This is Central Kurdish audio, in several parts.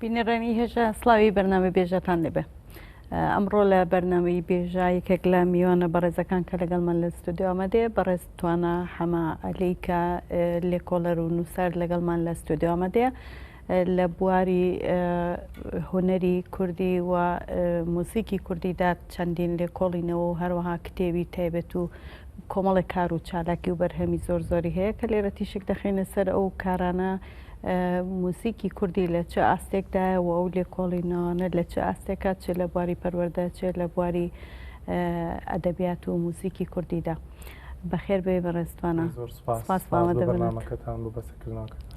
بینەرانی هێژا سلاوی بەرنامە بێژەتان لێبێ ئەمڕۆ لە بەرنمەی بێژا یەکێک لە میوانە بەڕێزەکان کە لەگەڵمان لە ستودیو ئەمەدێ بەڕێز توانە حەما ئەلیکە لێکۆڵەر و نووسەر لەگەڵمان لە ستودیو ئەمەدێ لە بواری هوەری کوردی و موزیکی کوردیدا چەندین لێکۆڵینەوە و هەروەها کتێوی تایبەت و کۆمەڵی کار و چالاکی و بەرهەمی زۆر زۆری هەیە کە لێرە تیشک دەخینە سەر ئەو کارانە موزیکی کوردی لە چ ئاستێکدایە و ئەو لێکۆڵینەوانە لە چ ئاستێکە چ لە بواری پەروەردە چێ لە بواری ئەدەبیات و موزیکی کوردیدا بەخێر بێ بەڕێستوانە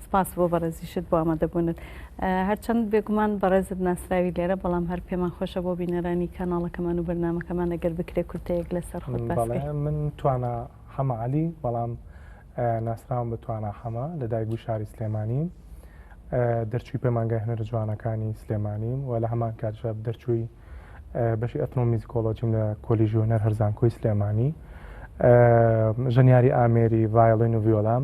سپاس بۆ بەڕێزیشت بۆ ئامادەبوونت هەرچەند بێگومان بەڕێزت ناسراوی لێرە بەڵام هەر پێمان خۆشە بۆ بینەرانی کەناڵەکەمان و بەرنمەکەمان ئەگەر بکرێ کورتەیەک لەسەر خۆت من توانا حەمەعالی بەڵام ناسراوم بە توانا حەمە لە دایکبووی شاری سلێمانیم دەرچووی پەیمانگای هەنەرە جوانەکانی سلێمانیم و لە هەمان کاتژە دەرچووی بەشی ئەتنۆمیزیکۆلۆجیم لە کۆلیژی هەنەر هەرزانکۆی سلێمانی ژەنیاری ئامێری ڤایلین و ڤیۆلام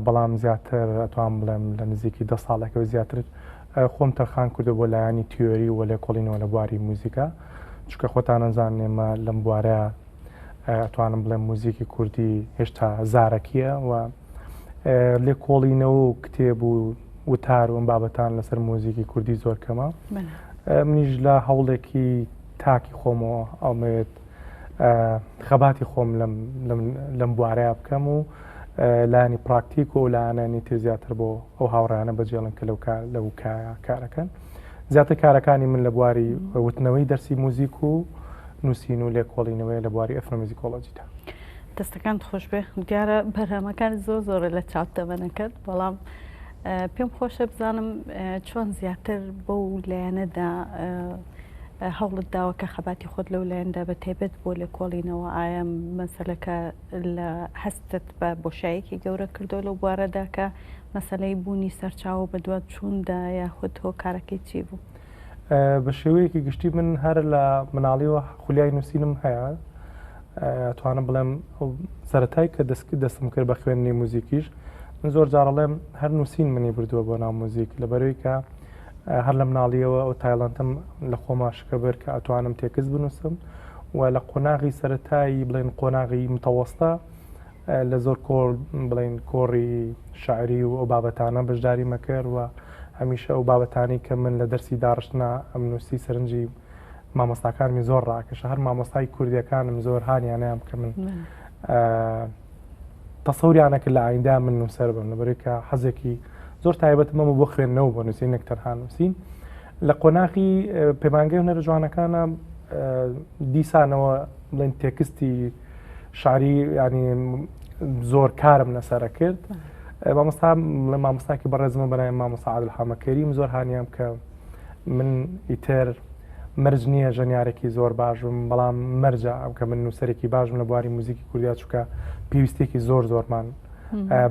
بەڵام زیاتر ئەتوان بڵێم لە نزیکی دە ساڵێکەوە زیاتر خۆم تەرخان کردو بۆ لایانی تیۆری و لێکۆڵینەوە لە بواری موزیکا چکە خۆتان نەزان نێمە لەم بوارە ئەتوانم بڵێم موزیکی کوردی هێشتا زارەکیە و لێکۆڵینەوە و کتێب و وتار و بابەتان لەسەر موزیکی کوردی زۆر کەمە منیش لە هەوڵێکی تاکی خۆمەوە ئەڵمەوێت خەباتی خۆم لەم بوارەیە بکەم و لانی پراکتیک و لایەنانی تر زیاتر بۆ ئەو هاوڕانە بەجێڵن کە لەو لەو کارەکەن زیاتر کارەکانی من لە بواری وتنەوەی دەرسی موزیک و نووسین و لێکۆڵینەوەیە لە بواری ئەثنۆمیزیکۆلۆجیدا. دەستەکانت خۆشبێ دیارە بەرهەمەکان زۆر زۆرە لە چاپ تەمەنەکەت بەڵام پێم خۆشە بزانم چۆن زیاتر بۆ و لایەنەدا هەوڵت داوە کە خەباتی خۆت لەو لایەندا بە تایبەت بۆ لە کۆڵینەوە ئایا مەسلەکە لە هەستت بە بۆشایەکی گەورە کردو لەو بوارەدا کە مەسلەی بوونی سەرچاوە بە دوات چووندا یاخود هۆکارەکەی چی بوو؟ بە شێوەیەکی گشتی من هەر لە مناڵیەوە خولیای نووسینم هەیە توانم بڵێم سەتای کە دەستکی دەستم کرد بە خوێندنی موزیکیش من زۆر جاڕڵێم هەر نووسین منی بردووە بۆ ناو موزیک لە بەروی کە هەر لە مناڵیەوە ئەو تایلندم لە خۆما شکە بەر کە ئەتوانم تێکس بنووسم و لە قۆناغی سەتایی بڵێن قۆناغی متەوەستا لە زۆر کۆڕ بڵێن کۆڕی شعری و ئەو بابەتانە بەشداری مەکرد و هەمیشە ئەو بابەتانی کە من لە دەرسی داڕشتنا ئەمنووسی سەرنجی مامۆستاکانمی زۆر ڕاکەش هەر مامۆستای کوردیەکانم زۆر هاانیانیان کە من تەسەوریانە کرد لە ئایندا من نووسەر بم لەبەرێکە حەزێکی زۆر تایبەت مەمە بۆ خوێندنەوە بۆ نووسین نەک تەنها نووسین لە قۆناغی پەیمانگەی هەرە جوانەکانە دیسانەوە بڵێن تێکستی شاری ینی زۆر کارم لەسرە کرد مامۆستا لە مامۆستاکی بەڕێزمە بەای مامۆسا عادل حامەکەریم زۆر هاانیان کە من ئیتر مەرج نییە ژەنیارێکی زۆر باشم بەڵام مەرجە ئەم کە من نووسەرێکی باشم لە بواری موزیکی کوردیا چووکە پێویستێکی زۆر زۆرمان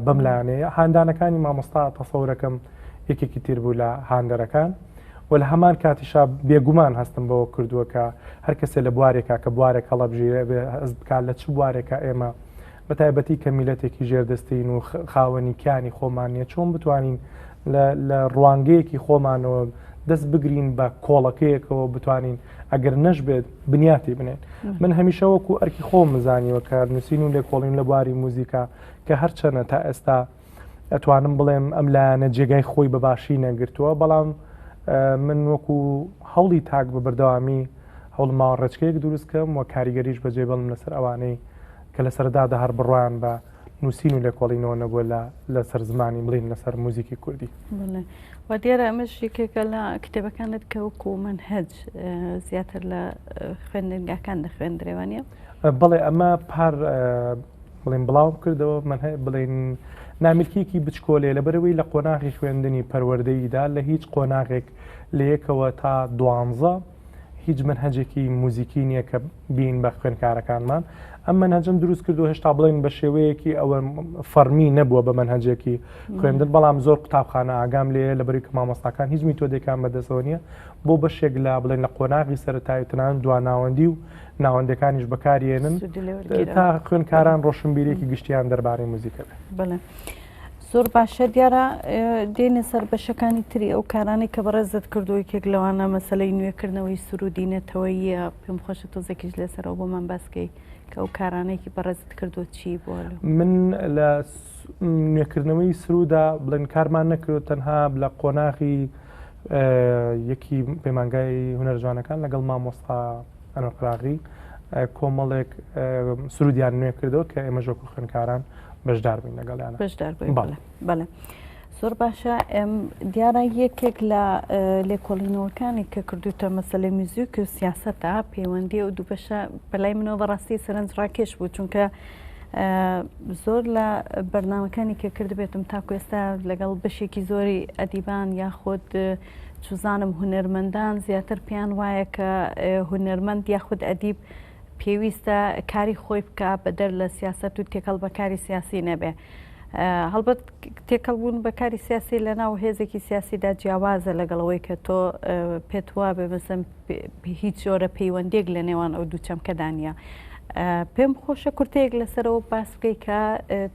بەم لاانەیە هاندانەکانی مامۆستا تەسەورەکەم یەکێکی تیر بوو لە هاندەرەکان و لە هەمان کاتیشا بێگومان هەستم بەوە کردووە کە هەر کەسێ لە بوارێکا کە بوارێک هەڵەبژێرێ بێ هەست بکات لە چ بوارێکا ئێمە بە تایبەتی کە میلەتێکی ژێردەستین و خاوەنی کیانی خۆمان نیە چۆن بتوانین لە ڕوانگەیەکی خۆمانەوە دەست بگرین بە کۆڵەکەیەکەوە بتوانین ئەگەر نەش بێت بنیاتی بنێن من هەمیشە وەکو ئەرکی خۆم مزانیوە کە نووسین و لێکۆڵین لە بواری موزیکا کە هەرچەنە تا ئێستا ئەتوانم بڵێم ئەم لایەنە جێگای خۆی بە باشی نەگرتووە بەڵام من وەکو هەوڵی تاک بە بەردەوامی هەوڵ ماوە ڕێچکەیەک دروستکەم و کاریگەریش بەجێ بڵم لەسەر ئەوانەی کە لە سەردادا هەر بڕوایان بە نووسین و لێکۆڵینەوە نەبووە لە لەسەر زمانی بڵین لەسەر موزیکی کوردی و دیارە ئەمەش یەکێکە لە کتێبەکانت کە وەکو من هەج زیاتر لە خوێندنگاکان دەخوێندرێوانە بڵێ ئەمە پار بڵێن بڵاوم کردەوە من هەیە بڵێن نامیلکیەکی بچکۆلێ لەبەرەوەی لە قۆناغی خوێندنی پەروەردەیدا لە هیچ قۆناغێک لە یەکەوە تا دوانزە هیچ من هەجێکی موزیکی نییە کە بین بە خوێنکارەکانمان ئەم من هەجم دروست کردو هێشتا بڵێن بە شێوەیەکی ئەوە فەرمی نەبووە بە من هەجێکی خوێندن بەڵام زۆر قوتابخانە ئاگام لێ لە بەریک مامۆستاکان هیچ میتۆدێکان بەدەستەوە نیە بۆ بەشێک لە بڵێن لە قۆناغی سەرتایتنان دواناوەندی و ناوەندەکانیش بەکارێنن تا خوێنکاران ڕۆشنبیرێکی گشتیان دەربارەی موزیکە بێت بڵێ. زۆر باشە دیارە دێنە سەر بەشەکانی تری ئەو کارانی کە بەڕێزت کردووە کێک لەوانە مەسلەی نوێکردنەوەی سرودی نەتەوەیە پێم خۆشە تۆزێکیش لەسەرەوە بۆمان باسکەی کە ئەو کارانێکی بەڕێزت کردو چی بۆ من لە نوێکردنەوەی سرودا بڵێن کارمان نەکرێت تەنها لە قۆناغی یەکی پەیمانگای هونەرجوانەکان لەگەڵ مامۆستا ئەنەر قراغی کۆمەڵێک سرودیان نوێ کردەوە کە ئێمە ژۆک و خوێنکاران بەشدار بین لەگەڵیان بەشدار بەڵێ زۆر باشە ئەم دیارە یەکێک لە لێکۆڵینەوەکانی کە کردوتە مەسلەی میزیک و سیاستە پەیوەندی و دووبەشە بەلای منەوە بەڕاستی سەرنج ڕاکێش بوو چونکە زۆر لە بەرنمەکانی کە کردبێتم تاکو ئێستا لەگەڵ بەشێکی زۆری ئەدیبان یاخود چوزانم هونەرمەندان زیاتر پێیان وایە کە هونەرمەند یاخود ئەدیب پێویستە کاری خۆی بکە بەدەر لە سیاست و تێکەڵ بە کاری سیاسی نەبێ هەڵبەت تێکەڵ بوون بە کاری سیاسی لە ناو هێزێکی سیاسیدا جیاوازە لەگەڵەوەی کە تۆ پێت وا بێ بەسم هیچ جۆرە پەیوەندێک لە نێوان ئەو دوو چەمکەدا نیە پێم خۆشە کورتەیەک لەسەرەوە باس بکەی کە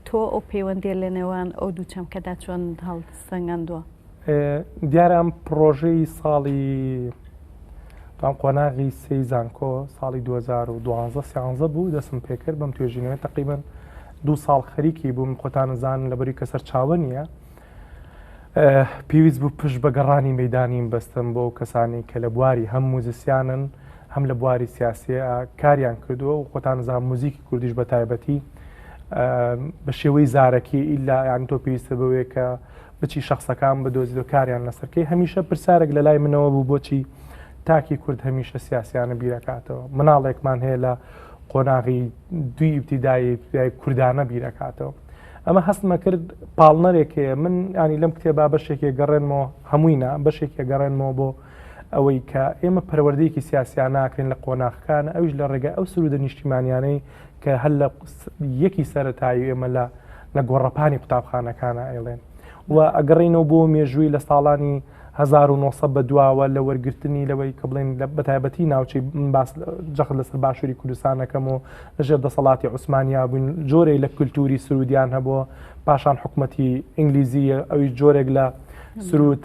تۆ ئەو پەیوەندی لە نێوان ئەو دوو چەمکەدا چۆن هەڵسەنگاندووە دیارە ئەم پڕۆژەی ساڵی تام قۆناغی سێی زانکۆ ساڵی 2012 سیانزە بوو دەسم پێکرد بەم توێژینەوە تقریبن دوو ساڵ خەریکی بووم خۆتانزان لەبەری کە سەرچاوە نییە پێویست بوو پشت بە گەڕانی مەدانیم بەستم بۆ کەسانی کە لە بواری هەم موزیسیانن هەم لە بواری سیاسە کاریان کردووە و خۆتانزان موزیکی کوردیش بە تایبەتی بە شێوەی زارەکی ئیلا یان تۆ پێویستە بەوەیە کە بچی شەخسەکان بدۆزیەوە کاریان لەسەر کەی هەمیشە پرسارێک لە لای منەوە بوو بۆچی تاکی کورد هەمیشە سیاسیانە بیرەکاتەوە مناڵێکمان هەیە لە قۆناغی دوی ئیبتیدایی کوردانە بیرەکاتەوە ئەمە هەستمە کرد پاڵنەرێکێ من ینی لەم کتێبا بەشێکی گەڕێنمەوە هەمووینا بەشێکی گەڕێنمەوە بۆ ئەوەی کە ئێمە پەروەردەیەکی سیاسیان ناکەین لە قۆناخەکان ئەوش لە ڕێگە ئەو سرودە نیشتیمانیانەی کە هەر لە یەکی سەرەتایی ئێمە لە لە گۆڕەپانی قوتابخانەکانە ئەیڵێن و ئەگەڕینەوە بۆ مێژووی لە ساڵانی 1970 بە دواوە لە وەرگرتنی لەوەی کە بڵێن لە بەتایبەتی ناوچەی باس جەخت لەسەر باشووری کوردستانەکەم و لەژێر دەسەڵاتی عوسمانیا بووین جۆرەی لە کللتوری سرودیان هەبووە پاشان حکوومەتی ئینگلیزی ئەوی جۆرێک لە سرود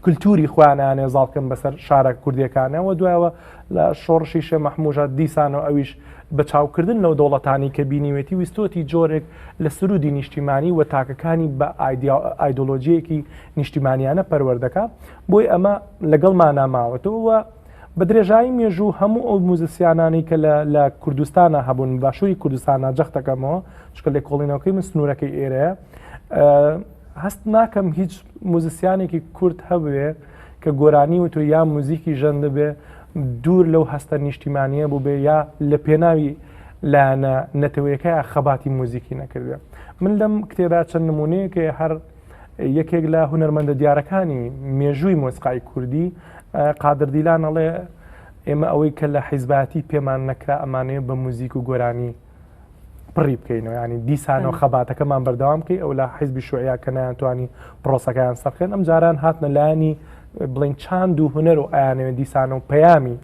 کلتوری خۆیان نانێ زاڵکەن بەسەر شارە کوردیەکانەوە دوایەوە لە شۆڕشی شێ مەحموژە دیسانەوە ئەویش بە چاوکردن لەو دەوڵەتانی کە بینیوێتی ویستۆتی جۆرێک لە سرودی نیشتیمانی و تاکەکانی بە ئایدۆلۆژیەکی نیشتیمانیانە پەروەردەکە بۆی ئەمە لەگەڵ ماناماوەتەوە بە درێژایی مێژوو هەموو ئەو موزسیانانی کە لە کوردستانە هەبوون باشووری کوردستانە جەختەکەمەوە چکە لێکۆڵینەوەکەی من سنوورەکەی ئێرەیە هەست ناکەم هیچ موزیسیانێکی کورت هەبێ کە گۆرانی و تۆ یا موزیکی ژەن دەبێ دوور لەو هەستە نیشتیمانیە بوو بێ یا لە پێناوی لایەنە نەتەوەیەەکە خەباتی موزیکی نەکردێ من لەم کتێبا چەند نمونەیەکە هەر یەکێک لە هونەرمەندە دیارەکانی مێژووی مۆسقای کوردی قادردیلانەڵێ ئێمە ئەوەی کە لە حیزباتی پێمان نەکرا ئەمانەیە بە موزیک و گۆرانی پڕی بکەینەوە ینی دیسانەوە خەباتەکەمان بەردەوام بکەی ئەو لە حیزبی شوعیا کە نیانتوانی پرۆسەکەیان سەرخێن ئەم جاران هاتنە لایانی بڵین چاند و هوەر و ئایانەوە دیسانە و پەیامی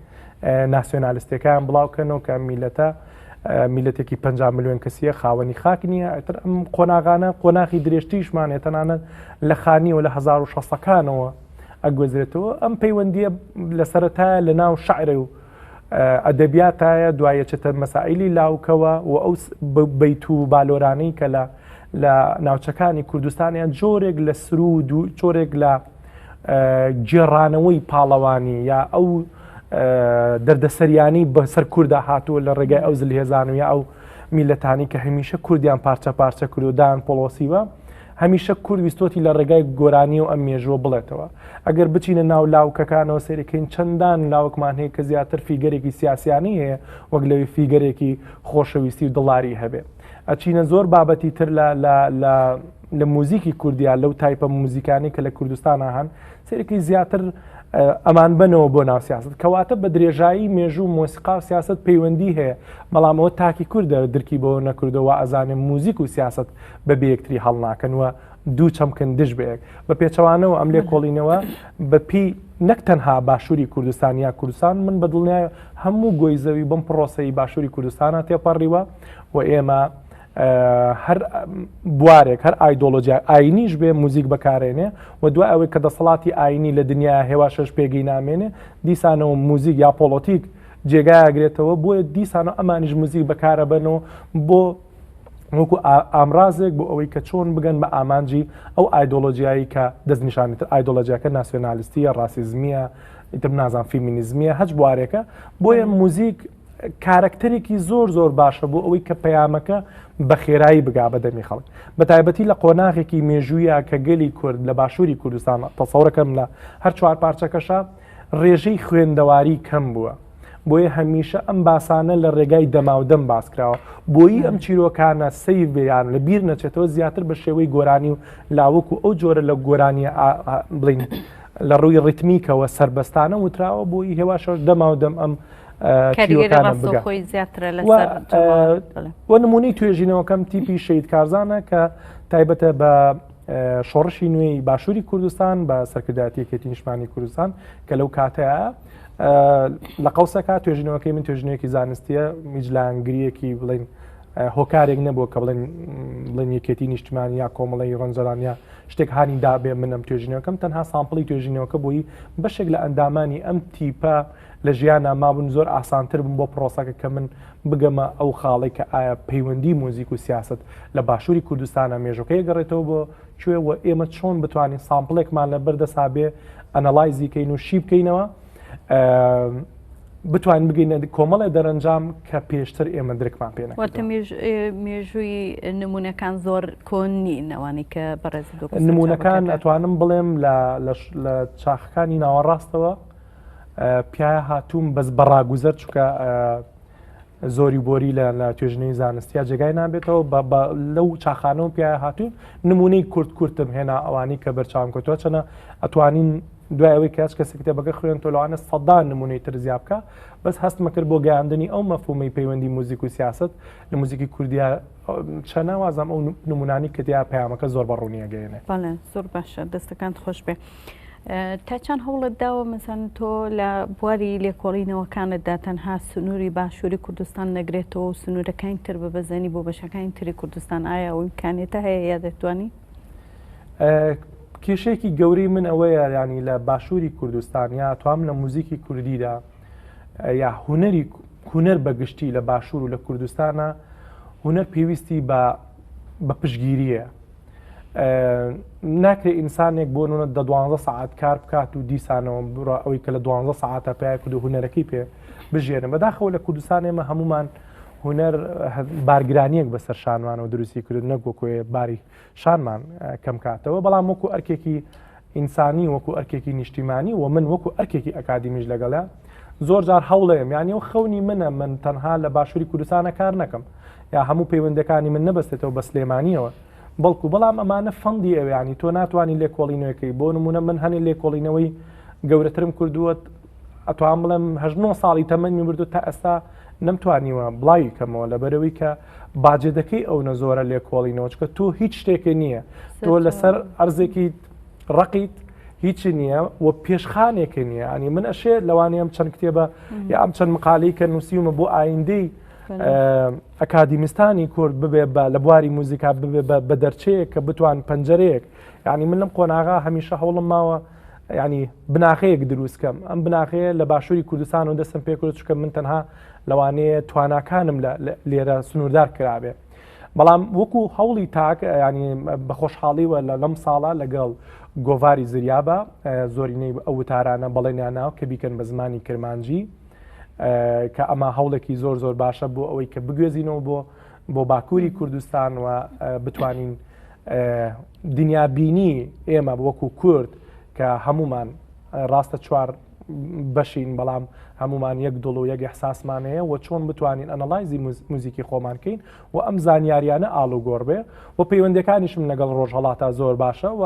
ناسیۆنالیستەکان بڵاوکەنەوە کە میلەتە میلەتێکی 5 میلیۆن کەسیە خاوەنی خاک نییە ئەتر ئەم قۆناغانە قۆناخی درێژتیشمانێت تەنانەت لە خانیەوە لە 1960ەکانەوە ئەگوزرێتەوە ئەم پەیوەندیە لە سەرەتایە لە ناو شعرە و ئەدەبیاتایە دوایەچێتە مەسائیلی لاوکەوە و ئەو بەیت و بالۆرانەی کە لە لە ناوچەکانی کوردستانیان جۆرێک لە سرود و جۆرێک لە گێڕانەوەی پاڵەوانی یا ئەو دەردەسەریانی بەسەر کووردا هاتووە لە ڕێگای ئەو زلهێزان و یا ئەو میلەتانی کە هەمیشە کوردیان پارچە پارچە کردودان پۆڵۆسیوە هەمیشە کورد ویستۆتی لە ڕێگای گۆرانی و ئەم مێژووە بڵێتەوە ئەگەر بچینە ناو لاوکەکانەوە سەیرکەین چەندان لاوکمان هەیە کە زیاتر فیگەرێکی سیاسیانی هەیە وەک لەوی فیگەرێکی خۆشەویستی و دڵاری هەبێ ئەچینە زۆر بابەتی تر لە لە لە موزیکی کوردیا لەو تایپە موزیکانی کە لە کوردستانە هەن سەیرکی زیاتر ئەمان بنەوە بۆ ناو سیاست کەواتە بە درێژایی مێژوو مۆسیقا و سیاست پەیوەندی هەیە بەڵامەوە تاکی کوردە درکی بۆ نەکردەوە ئەزانێ موزیک و سیاست بە بێ یەکتری هەڵناکەن وە دوو چەمکن دژ بەیەک بە پێچەوانەوە ئەم لێ کۆڵینەوە بەپی نەک تەنها باشووری کوردستان یا کوردستان من بە دڵنیایە هەموو گۆی زەوی بم پرۆسی باشووری کوردستانە تێپەڕیوە و ئێمە هەر بوارێک هەر ئایدۆلۆژیا ئاینیش بێ موزیک بەکارێنێ و دوای ئەوەی کە دەسەڵاتی ئاینی لە دنیا هێوا شش پێگەی نامێنێ دیسانەوە موزیک یا پۆڵۆتیک جێگایگرێتەوە بۆیە دیسانە ئەمانیش موزیک بەکارەبەن و بۆ وەکو ئامرازێک بۆ ئەوەی کە چۆن بگەن بە ئامانجی ئەو ئایدۆلۆژیایی کە دەستنیشانیتر ئایدۆلۆژیاکە ناسیۆنالیستیە ڕاسیزمیە ئیتر نازان فیمینیزمیە هەچ بوارێکە بۆیە موزیک کارەکتەرێکی زۆر زۆر باشە بۆ ئەوەی کە پەیامەکە بە خێرایی بگا بە دەمی خەڵک بە تایبەتی لە قۆناغێکی مێژوویە کە گەلی کورد لە باشووری کوردستان تەسەورەکەم لە هەر چوار پارچەکەشە ڕێژەی خوێندەواری کەم بووە، بۆیە هەمیشە ئەم باسانە لە ڕێگای دەماودەم باسکراوە، بۆیی ئەم چیرۆکانە سەیر بێ یان لە بیر نەچێتەوە زیاتر بە شێوەی گۆرانی و لاوک و ئەو جۆرە لە گۆرانیە بڵین لە ڕووی ڕیتمیکەوە سربەستانە وتراوە بۆی هێواشەش دەماودەم ئەم خۆی زیاترە لە وە نمونەی توێژینەوەکەم تیپی شید کارزانە کە تایبەتە بە شۆڕشی نوێی باشووری کوردستان بە سەرکردایەتی یەکێتی نیشمانی کوردستان کە لەو کاتەیە لە قەوسەکە توێژینەوەکەی من توێژنێکی زانستیە میجلانگریەکی بڵین هۆکارێک نەبووە کە بڵێن بڵێن یەکێتی نیشتمان یا کۆمەڵی ڕەنجەران یا شتێک هاانی دابێ منم توێژینەکەم تەنها سامپڵی توێژینەوەکە بۆی بەشێک لە ئەندامانی ئەم تیپە لە ژیانە مابوون زۆر ئاسانتر بووم بۆ پرۆسەکە کە من بگەمە ئەو خاڵێک کە ئایا پەیوەندی موزیک و سیاست لە باشوری کوردستانە مێژوەکەی ئەگەڕێتەوە بۆ کوێ و ئێمە چۆن بتوانین سامپڵێکمان لە بەر دەسا بێ ئەنەڵایزی کەین و شی بکەینەوە بتوان بگەینە کۆمەڵێ دەرەنجام کە پێشتر ئێمە درکمان پێێنە مێژووی نمونونەکان زۆر کۆن نینەوانی کە بەڕێز نمونونەکان ئەتوانم بڵێم لە چاخەکانی ناوەڕاستەوە پیاە هاتووم بەس بەڕاگوزەر چکە زۆری بۆری لە لە توێژنەوەی زانستیا جێگای نابێتەوە لەو چاخانەوە پێ هاتوون نمونەی کورت کورتم هێنا ئەوانی کە بەرچاوم کەوتوە چەنە ئەتوانین دوای ئەوەی کەس کەسی کتێبەکە خوێن تۆلوانە سەدان نمونەی تر زیاب بکە بەس هەستمەکرد بۆ گەیاندنی ئەو مەفومی پەیوەندی موزیک و سیاست لە موزیکی کوردیا چە ناوازەم ئەو نمونانی کە دیا پەیامەکە زۆر بە ڕوونی ئەگەیەنێ بەڵێ زۆر باشە دەستەکانت خۆش بێ تا چەند هەوڵت داوە مەسەن تۆ لە بواری لێکۆڵینەوەکانتدا تەنها سنووری باشووری کوردستان نەگرێتەوە و سنوورەکانی تر بە بەزەنی بۆ بەشەکانی تری کوردستان ئایا ئەو امکانێتە هەیە یا دەتوانی کێشێکی گەورەی من ئەوەیە ینی لە باشووری کوردستان یا توام لە موزیکی کوردیدا یا هونەری هونەر بە گشتی لە باشوور و لە کوردستانە هونەر پێویستی بە بە پشگیریە ناکرێت ئینسانێک بۆ نونە دە دوانزە سعات کار بکات و دیسانەوە بڕە ئەوەی کە لە دوانزە سعاتە پێ کود و هونەرەکەی پێ بژێنە بەداخەوە لە کوردستان ئێمە هەمومان هونەر بارگرانیەک بەسەر شانوانەوە دروستی کرد نەگوکۆێ باری شارمان کەم کاتەوە بەڵام وەکو ئەرکێکی ئینسانی وەکو ئەرکێکی نیشتیمانی و من وەکو ئەرکێکی ئەکادیمیش لەگەڵە زۆر جار هەوڵەیەم یانی و خەونی منە من تەنها لە باشووری کوردستانە کار نەکەم یا هەموو پەیوەندەکانی من نەبستێتەوە بە سلێمانیەوە بەڵکو بەڵام ئەمانە فەندی ئەویانی تۆ ناتوانانی لێکۆڵینەوەکەی بۆ نمونە من هەنێ لێکۆڵینەوەی گەورەترم کردووە ئەتوام بڵێم هەژن و ساڵی تەمەنی بردو تا ئەستا نەمتوانیوە بڵاوی کەمەوە لە بەرەوەی کە باجێدەکەی ئەو نەزۆرە لێکۆڵی نەوەچکە تۆ هیچ شتێکە نییە تۆ لەسەر ئەرزێکی ڕقیت هیچی نییە و پێشخانێکە نییە ئەنی من ئەشێ لەوانی ئەم چەند کتێبە یا ئەم چەند مقالی کە نووسیومە بۆ ئایندەی ئەکادیمستانی کورد ببێ بە لە بواری موزیکا ببێ بە دەرچەیە کە بتوان پەنجەرەیەک یعنی من لەم قۆناغا هەمیشە هەوڵم ماوە ینی بناخەیەک دروستکەم ئەم بناخەیە لە باشووری کوردستان و دەستم پێکرد چکە من تەنها لەوانەیە تواناکانم لە لێرە سنووردار کرابێ بەڵام وەکو هەوڵی تاک ینی بە خۆشحاڵیوە لە لەم ساڵە لەگەڵ گۆڤاری زریابە زۆرینەی ئەو وتارانە بەڵێنیان ناو کە بیکەن بە زمانی کرمانجی کە ئەمە هەوڵێکی زۆر زۆر باشە بۆ ئەوەی کە بگوێزینەوە بۆ بۆ باکووری کوردستان و بتوانین دنیابینی ئێمە وەکو کورد کە هەمومان ڕاستە چوار بەشین بەڵام هەمومان یەک دڵ و یەک احساسمان هەیە و چۆن بتوانین ئەنەڵایزی موزیکی خۆمان کەین و ئەم زانیاریانە ئالو گۆڕ بێ و پەیوەندەکانیشم لەگەڵ ڕۆژهڵاتا زۆر باشە و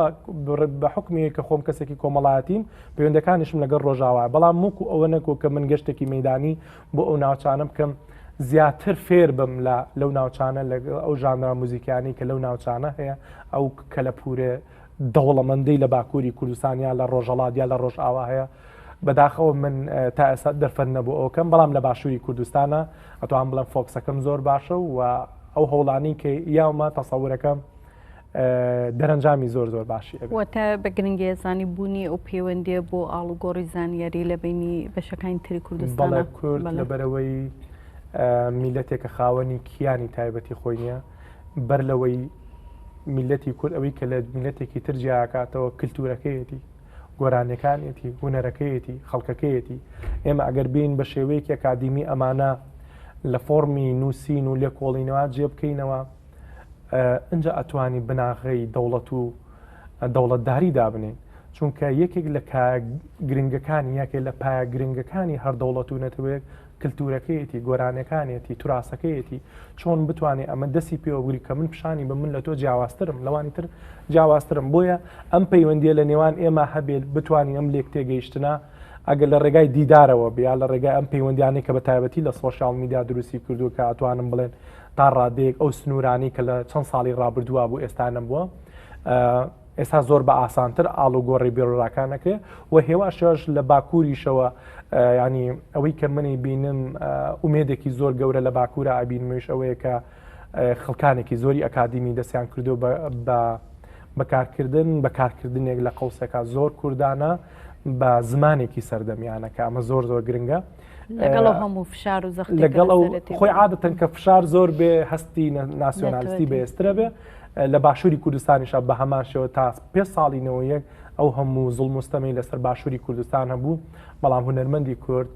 بە حکمی کە خۆم کەسێکی کۆمەڵایەتیم پەیوەندەکانیشم لەگەڵ ڕۆژاوا بەڵام موکو ئەوە نەکۆ کە من گەشتێکی مەدانی بۆ ئەو ناوچانە بکەم زیاتر فێر بم لە لەو ناوچانە لە ئەو ژانرا موزیکانی کە لەو ناوچانە هەیە ئەو کەلەپورێ دەوڵەمەندەی لە باکووری کوردستانیا لە ڕۆژەڵاتیا لە ڕۆژ ئاوا هەیە بەداخەوە من تا ئێستا دەرفەت نەبوو ئەوکەم بەڵام لە باشووری کوردستانە ئەتوان بڵم فۆکسەکەم زۆر باشە و ئەو هەوڵانی کە یاومە تەسەورەکەم دەرەنجامی زۆر زۆر باشی ئەبێت. واتە بە گرنگیە زانی بوونی ئەو پەیوەندیە بۆ ئاڵوگۆڕی زانیاری لە بینی بەشەکانی تری کوردستان بەڵێ کورد لە بەرەوەی میلەتێکە خاوەنی کیانی تایبەتی خۆی نیە بەر لەوەی میلەتی کورد ئەوەی کە لە میلەتێکی تر جیاکاتەوە کللتورەکەیەتی گۆرانەکانێتی هوەرەکەیەتی خەڵکەکەیەتی ئێمە ئەگەر بین بە شێوەیەکی ئەکادیمی ئەمانە لە فۆڕمی نووسین و لێکۆڵینەوە جێ بکەینەوە ئینجا ئەتوانی بناغەی دەوڵەت و دەوڵەتداری دابنین چونکە یەکێک لە گرنگەکانی یەکێ لە پایە گرنگەکانی هەر دەوڵەت و نەتەوەیەک کللتورەکەیەتی گۆرانەکانێتی توراسەکەیەتی چۆن بتوانێت ئەمە دەسی پێوەگوری کە من پیشانی بە من لە تۆ جیاوازترم لەوانی تر جیاوازترم بۆیە ئەم پەیوەندیە لە نێوان ئێمە هەبێت بتوانین ئەم لێک تێگەیشتنا ئەگەر لە ڕێگای دیدارەوە بیا لە ڕێگای ئەم پەیوەندیانەی کە بە تایبەتی لە سۆشال میدیا دروستی کردو کە ئەتوانم بڵێن تا ڕادەیەک ئەو سنوورانەی کە لە چەند ساڵی ڕابردووە بوو ئێستا نەبووە ئێستا زۆر بە ئاسانتر ئاڵ و گۆڕی بێڕراکان نەکرێت و هێواشش لە باکووریشەوە ینی ئەوەی کە منی بینم ئومێدێکی زۆر گەورە لە باکوورە ئابینمەویش ئەوەیە کە خەڵکانێکی زۆری ئەکادیمی دەستیان کردو بە بەکارکردن بەکارکردنێک لە قوسەکە زۆر کوردانە بە زمانێکی سەردەمیانەکە ئەمە زۆر زۆر گرنگە. لەگەڵ هەموو فشار و زەخت لەگەڵ خۆی عادەتەن کە فشار زۆر بێ هەستی ناسیۆنالیستی بەێسترە بێ لە باشووری کوردستانیشە بە هەمان شێوە تا پێ ساڵینەوە یەک ئەو هەموو زڵ مستەمەی لەسەر باشووری کوردستان هەبوو بەڵام هوەرمەندی کورد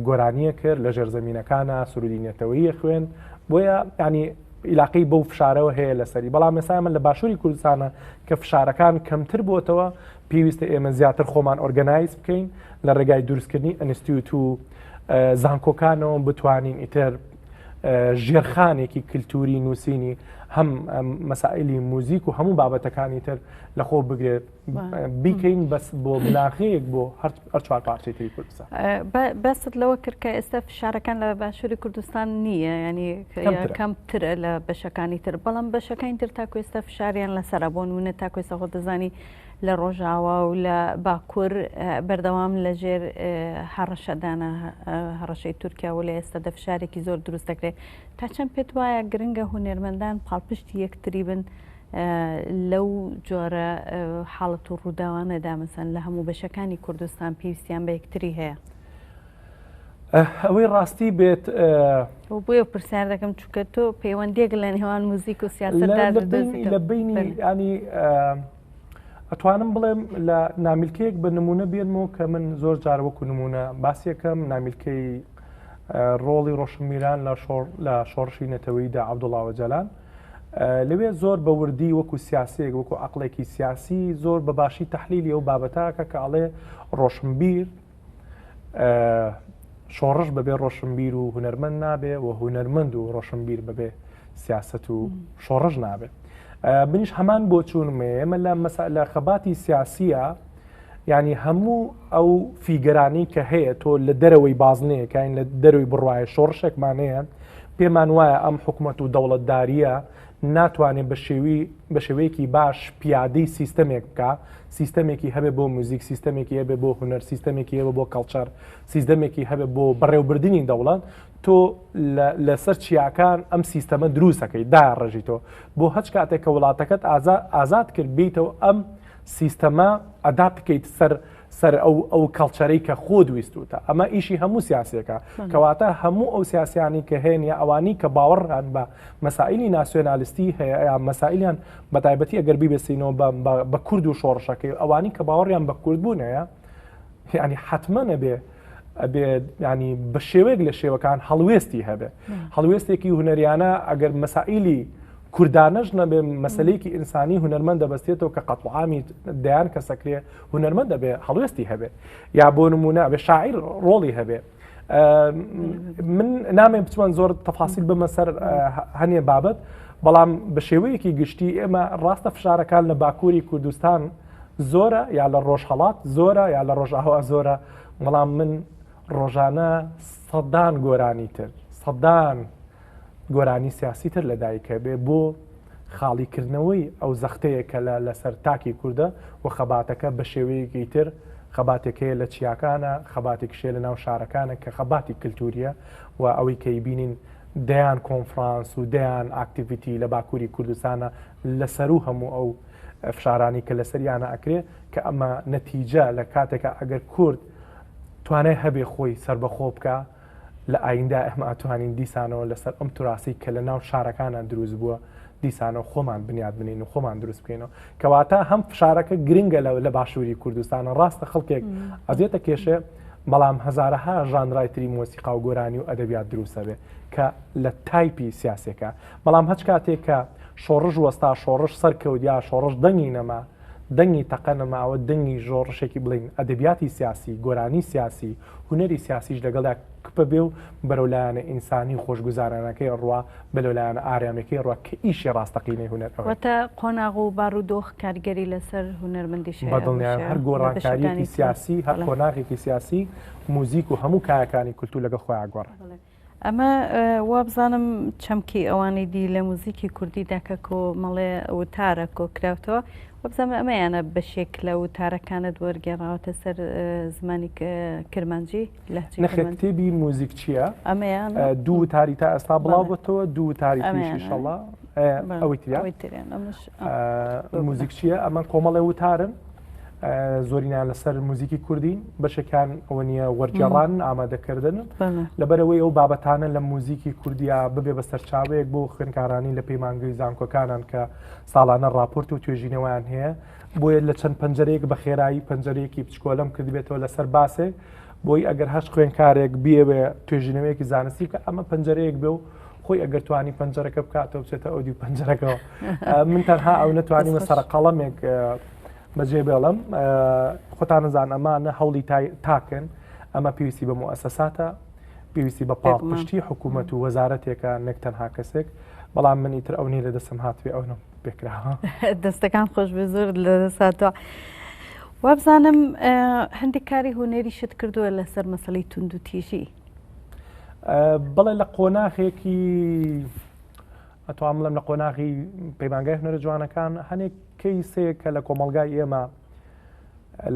گۆرانیە کرد لە ژێر زمینینەکانە سرودی نەتەوەیە خوێن بۆیە ینی عیلاقی بەو فشارەوە هەیە لەسەری بەڵام مەسایمە لە باشووری کوردستانە کە فشارەکان کەمتر بۆتەوە پێویستە ئێمە زیاتر خۆمان ئۆرگەنایز بکەین لە ڕێگای دروستکردنی ئەنستیوت و زانکۆکانەوە بتوانین ئیتر ژێرخانێکی کللتوری نووسینی هەم مەسائلی موزیک و هەموو بابەتەکانی تر لە خۆ بگرێت بیکەین بەس بۆ بناغەیەک بۆ هەر چوار پارچەی تری کوردستان بەست لەوە کرد کە ئێستا فشارەکان لە باشووری کوردستان نییە ینی کەمترە لە بەشەکانی تر بەڵام بەشەکانی تر تاکوێستا فشاریان لەسرە بۆ نمونە تاکوێسەخۆ دەزانی لە ڕۆژاوا و لە باکور بەردەوام لە ژێر هەڕەشەدانە هەڕەشەی تورکیا و لە ئێستادا فشارێکی زۆر دروست دەکرێت تا چەند پێت وایە گرنگە هونەرمەندان پاڵپشتی یەکتری بن لەو جۆرە حاڵەت و ڕووداوانەدا مەسەن لە هەموو بەشەکانی کوردستان پێویستیان بە یەکتری هەیە ئەوەی ڕاستی بێت بۆیە پرسیار دەکەم چکە تۆ پەیوەندێک لە نێوان موزیک و سیاست لە بینی ینی ئەتوانم بڵێم لە نامیلکەیەک بە نمونە بێنمەوە کە من زۆر جارەوەکو نمونە باسیەکەم نامیلکەی ڕۆڵی ڕۆشنمیران لە شۆڕ لە شۆڕشی نەتەوەیدا عبدوڵاوە جەلان لەوێ زۆر بە وردی وەکو سیاسەیەک وەکو عقلێکی سیاسی زۆر بەباشی تحلیلی و بابەتاکە کە ئەڵێ ڕۆشنبیر شۆڕش بەبێ ڕۆشنبیر و هوەرمەند نابێ و هوەرمەند و ڕۆشنبیر بەبێ سیاست و شۆڕش نابێت منیش هەمان بۆ چوونمێ ئێمە لە مەسەلە خەباتی سیاسیە ینی هەموو ئەو فیگەرانی کە هەیە تۆ لە دەرەوەی بازنەیەکین لە دەروی بڕواایە شۆڕشێکمانەیە پێمان وایە ئەم حکوومەت و دەوڵەتداریە ناتوانێ بە شێوی بە شێوەیەکی باش پیادەی سیستەمێک بکا سیستەمێکی هەبێ بۆ موزیک سیستەمێکی هەبێ بۆ هونەر سیستەمێکی هەبێ بۆ کەڵچەر سیستەمێکی هەبێ بۆ بەڕێوبردنی دەوڵەت تۆ لەسەر چیاکان ئەم سیستەمە دروستەکەی دا ڕژیتەوە بۆ هەچ کاتێک کە وڵاتەکەت ئازاد کرد بیتەوە ئەم سیستەمە ئەدا بکەیت سەر سەر ئەو ئەو کەڵچەرەی کە خۆت ویستوتە ئەمە ئیشی هەموو سیاسەکە کەواتە هەموو ئەو سیاسیانی کە هێن یا ئەوانی کە باوەڕان بە مەسائیلی ناسیۆنالیستی هەیە مەسائیلیان بەتایبەتی ئەگەر بیبێسینەوە بە بە کورد و شۆڕشەکەی ئەوانی کە باوەڕیان بە کوردبوون هەیە ینی حتممە نەبێ ئەبێ ینی بە شێوەیەک لە شێوەکان هەڵوێستی هەبێ هەڵوێستێکی هوەریانە ئەگەر مەسائیلی کوردانەش نەبێ مەسلەیەکی ئینسانی هوەرمەند دەبستێتەوە کە قەتڵعامی دەیان کەسەکرێ هوەرمەند دەبێ هەڵوێستی هەبێ یا بۆ نمونە بێ شاعیر ڕۆڵی هەبێ من نامێ بچوان زۆر تەفاسیل بمە سەر هەنێ بابەت بەڵام بە شێوەیەکی گشتی ئێمە ڕاستە فشارەکان لە باکووری کوردستان زۆرە یا لە ڕۆژهڵات زۆرە یا لە ڕۆژاوا زۆرە بەڵام من ڕۆژانە سەدان گۆرانی تر سەدان گۆرانی سیاسی تر لە دایک هەبێ بۆ خاڵی کردنەوەی ئەو زەختەیە کە لە لەسەر تاکی کوردە و خەباتەکە بە شێوەیەکی تر خەباتێک هەیە لە چیاکانە خەباتێکیش هەیە لە ناو شارەکانە کە خەباتی کلتوریە و ئەوەی کە ئیبینین دەیان کۆنفرانس و دەیان ئاکتیڤیتی لە باکووری کوردستانە لە سەروو هەموو ئەو فشارانی کە لەسەریانە ئەکرێ کە ئەمە نەتیجە لە کاتێکە ئەگەر کورد توانای هەبێ خۆی سەربەخۆ بکا لە ئاییندا ئێمە ئەتوانین دیسانەوە لەسەر ئەم تراسی کە لە ناو شارەکانە دروست بووە دیسانەوە خۆمان بنیاد بنین و خۆمان دروست بکەینەوە کەواتە هەم فشارەکە گرنگە لە لە باشووری کوردستانە ڕاستە خەڵکێک ئەزیێتە کێشێ بەڵام هەزارەها ژانرای تری مۆسیقا و گۆرانی و ئەدەبیات دروستە بێ کە لە تایپی سیاسەکە بەڵام هەچ کاتێک کە شۆڕش وەستا شۆڕش سەرکەوت یا شۆڕش دەنگی نەما دەنگی تەقە نەماوە دەنگی ژۆڕشێکی بڵین ئەدەبیاتی سیاسی گۆرانی سیاسی هونەری سیاسیش لەگەڵدا کپ بێ و بەرەو لایەنە ئینسانی و خۆشگوزارانەکەی ڕوا بێ لەو لایەنە ئارامیەکەی ڕوا کە ئیشی ڕاستەقینەی هونەر ئەوەیە. واتە قۆناغ و بارودۆخ کاریگەری لەسەر هونەرمەندیش هەیە. بەدڵنیایەوە هەر گۆڕانکاریەکی سیاسی، هەر قۆناغێکی سیاسی، موزیک و هەموو کایەکانی کولتوور لەگەڵ خۆیان گۆڕێ. ئەمە وابزانم چەمکی ئەوانی دی لە موزیکی کوردی داکە کۆ مەڵێ وتارە کۆکراوتەوە وابزانم ئەمە یانە بەشێک لە وتارەکانت وەرگێڕاوەتە سەر زمانی کرمانجی لە کتێبی موزیک چییە؟ ئەمەیان دوو تاری تا ئەستا بڵاوبتەوە دوو تاری پیشیشەڵە ئەوەی تریان موزیک چییە ئەمە کۆمەڵێ وتارن زۆرینان لەسەر موزیکی کوردین بەشەکان ئەوە نیە وەرجێڕان ئامادەکردن لەبەرەوەی ئەو بابەتانە لە موزیکی کوردیا ببێ بە سەرچاوەیەک بۆ خوێنکارانی لە پەیمانگەی زانکۆکانان کە ساڵانە راپۆرت و توێژینەوەیان هەیە بۆیە لە چەند پەنجەرەیەک بە خێرایی پەنجەرەیەکی بچکۆلم کردبێتەوە لەسەر باسێک بۆی ئەگەر هەر خوێنکارێک بیەوێ توێژینەوەیەکی زانستی بکە ئەمە پەنجەرەیەک بێ و خۆی ئەگەر توانی پەنجەرەکە بکاتەوە بچێتە ئەو دیو پەنجەرەکەەوە من تەنها ئەو نەتوانیمە سەرقەڵەمێک بەجێ بێڵم خۆتانەزان ئەمانە هەوڵی تاکن ئەمە پێویستی بە موسەساتە پێویستی بە پاڵپشتی حکوومەت و وەزارەتێکە نەک تەنها کەسێک بەڵام منی تر ئەو نی لە دەسم هاتوێ ئەوە پێکراوە دەستەکان خۆش بێ زۆر لە دەساتوە. وابزانم هەندێک کاری هونەری شت کردووە لەسەر مەسلەی تونند و تیژی بڵێ لە قۆناخێکی ئەتوان بڵم لە قۆناغی پەیمانگای هەنەرە جوانەکان هەنێک کەی سێ کە لە کۆمەلگای ئێمە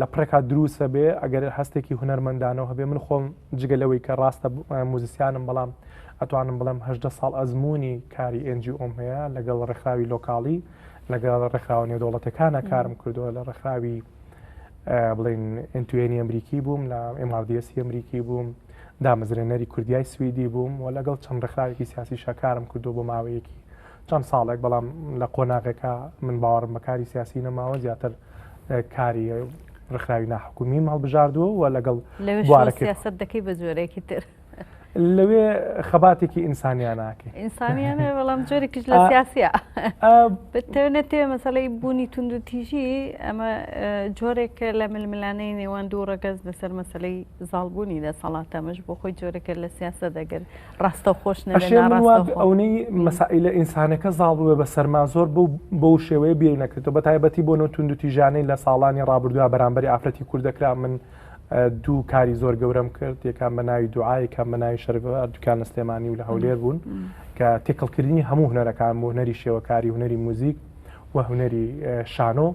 لە پڕێکا دروسە بێ ئەگەر هەستێکی هوەرمەندانەوە هەبێ من خۆم جگە لەوەی کە ڕاستە موزیسیانم بەڵام ئەتوانم بڵم هەدە ساڵ ئەزمموی کاری ئەنجی ئۆم هەیە لەگەڵ ڕێکخراوی لۆکاڵی لەگەڵ ڕێکخراوە نێودوڵەتەکانە کارم کردووە لە ڕێکخراوی بڵین ئەتوێنی ئەمریکی بووم لە ئماردیسی ئەمریکی بووم دامەزرێنەری کوردیای سوئدی بووم و لەگەڵ چەند ڕێکخراوێکی سیاسی شەکارم کردو بۆ ماوەیەکی چەند ساڵێک بەڵام لە قۆناغەکە من باوەڕم بەکاری سیاسی نەماوە زیاتر کاری ڕخراوی ناحکومی هەڵبژاردووە و لەگەڵ بوارەکەسەت دەکەی بە جۆرێکی تر لەوێ خەباتێکی ئینسانیانناکە ئینسانیانە بەڵام جۆرێکیش لە سیاسە بتەوێنە تێ مەسەی بوونی تونند و تیژی ئەمە جۆرێکە لە ململانەی نێوان دوو ڕەگەز بەسەر مەسلەی زاڵبوونی لە سەڵاتەمەش بۆ خۆی جۆرەکە لە سیاسە دەگەر ڕاستە خۆش ئەونەی مەسائلە ئینسانەکە زاڵ بووە بە سەرما زۆر بوو بۆ شێوەیە بیر نەکردەوە بە تایبەتی بۆ نەوتونند و تیژانەی لە ساڵانی ڕابردووە بەرامبەری ئافرەتی کوردەکرا من دوو کاری زۆر گەورەم کرد یەکان بە ناوی دوعای کام بە ناوی شەرف دوکان لە سلێمانی و لە هەولێر بوون کە تێکەڵکردنی هەموو هوەرەکان بۆ هەری شێوەکاری هوەری موزیک و هوەری شانۆ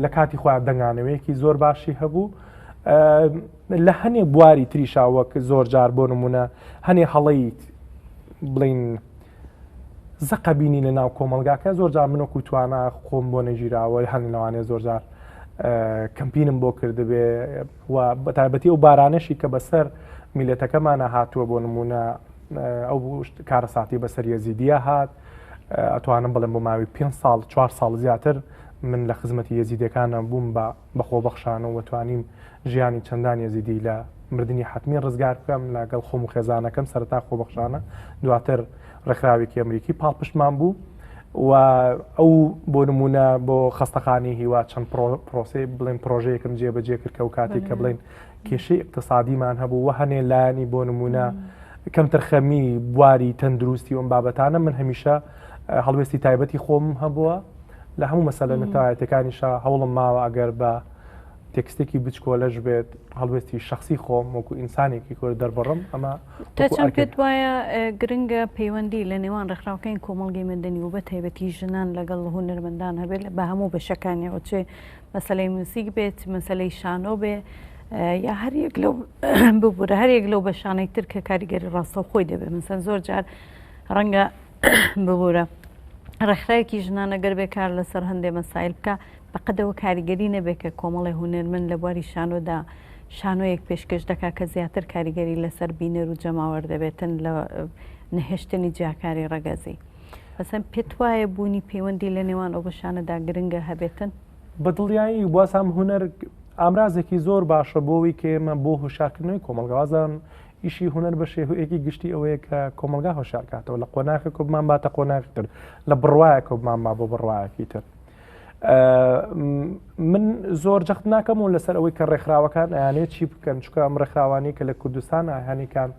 لە کاتی خۆیان دەنگانەوەیەکی زۆر باشی هەبوو لە هەنێ بواری تریشا وەک زۆر جار بۆ نمونە هەنێ هەڵەیت بڵین زەقە بینی لە ناو کۆمەلگاکە زۆر جار من وەکو توانا خۆم بۆ نەگیراوە هەن لەوانێ زۆر جار کەمپینم بۆ کردبێ و بە تایبەتی ئەو بارانەشی کە بەسەر میلەتەکەمانە هاتووە بۆ نمونە ئەو کارە ساعتی بەسەر یەزیدیە هات ئەتوانم بڵێم بۆ ماوی پێ ساڵ چوار ساڵ زیاتر من لە خزمەتی یەزیدەکانە بووم بە بە خۆبەخشانە و توانیم ژیانی چەندان یەزیدی لە مردنی حەتمی ڕزگار بکەم لە گەڵ خۆم و خێزانەکەم سەرەتا خۆبەخشانە دواتر ڕێکخراوێکی ئەمریکی پاڵپشتمان بوو و ئەو بۆ نمونە بۆ خەستەخانی هیوا چەند پرۆسی بڵێن پرۆژەیەکم جێبەجێ کرد کە و کاتێک کە بڵێن کێشەی اقتصادیمان هەبوو و هەنێ لایانی بۆ نمونە کەمترخەمی بواری تەندروستی ئەم بابەتانە من هەمیشە هەڵوێستی تایبەتی خۆم هەبووە لە هەموو مەسەلە نەتەوایەتەکانیشا هەوڵم ماوە ئەگەر بە تێکستێکی بچکۆلەش بێت هەڵوێستی شخصی خۆم وەکو ئینسانێکی کۆر دەربڕم ئەمە تاچەند پێت وایە گرنگە پەیوەندی لە نێوان ڕێکخراوکەین کۆمەڵگەی مەدەنی و بە تایبەتی ژنان لەگەڵ هونەرمەندان هەبێت بە هەموو بەشەکانیەوە چێ مەسلەی موسیک بێت مەسلەی شانۆ بێ یا هەریەک لەو ببوورە هەریەک لەو بەشانەی تر کە کاریگەری ڕاستە خۆی دەبێت مەسەن زۆر جار ڕەنگە ببورە ڕێکخراوێکی ژنانە گەر بێ کار لەسەر هەندێ مەسایل بکە بەقەدەوە کاریگەری نەبێت کە کۆمەڵی هوەرمن لە بواری شانۆدا شانۆیەک پێشکەش دەکا کە زیاتر کاریگەری لەسەر بینەر و جەماوەەر دەبێتن لە نەهێشتنی جیاکاری ڕەگەزی بەسەن پێت وایە بوونی پەیوەندی لە نێوان ئەو بەشانەدا گرنگە هەبێتن بەدڵیایی وازام هوەر ئامرازێکی زۆر باشە بۆەوەی کە ئێمە بۆ هۆشاکردنەوەی کۆمەلگازان ئیشی هونەر بە شێوەیەکی گشتی ئەوەیە کە کۆمەلگا هۆشارکاتەوە لە قۆناخی کۆ بمان باتە قۆناخی تر لە بڕواایە کۆ بمان با بۆ بڕواایەکی تر من زۆر جەخت ناکەم و لەسەر ئەوەی کە ڕێکخراوەکان ئەیانێت چی بکەن چکە ئەم ڕێکخراوانی کە لە کوردستان ئاهانیکان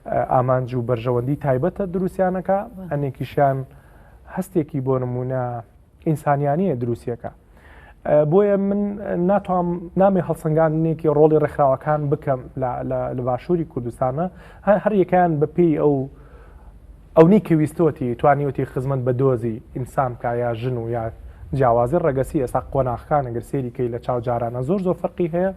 ئامانج و بەرژەوەندی تایبەتە دروستیانەکە ئەنێکیشیان هەستێکی بۆ نمونە ئینسانیانەیە دروستیەکە بۆیە من ناتوام نامێ هەڵسەنگاندنێکی ڕۆڵی ڕێکخراوەکان بکەم لە باشووری کوردستانە هەر یەکان بەپی ئەو ئەونی کە ویستۆتی توانیوتی خزمەت بە دۆزی ئینسان کا یا ژن و یا جیاوازی ڕەگەسی ئێستا قۆناخەکان گەر سێریکەی لە چاو جارانە زۆر زۆر فەرقی هەیە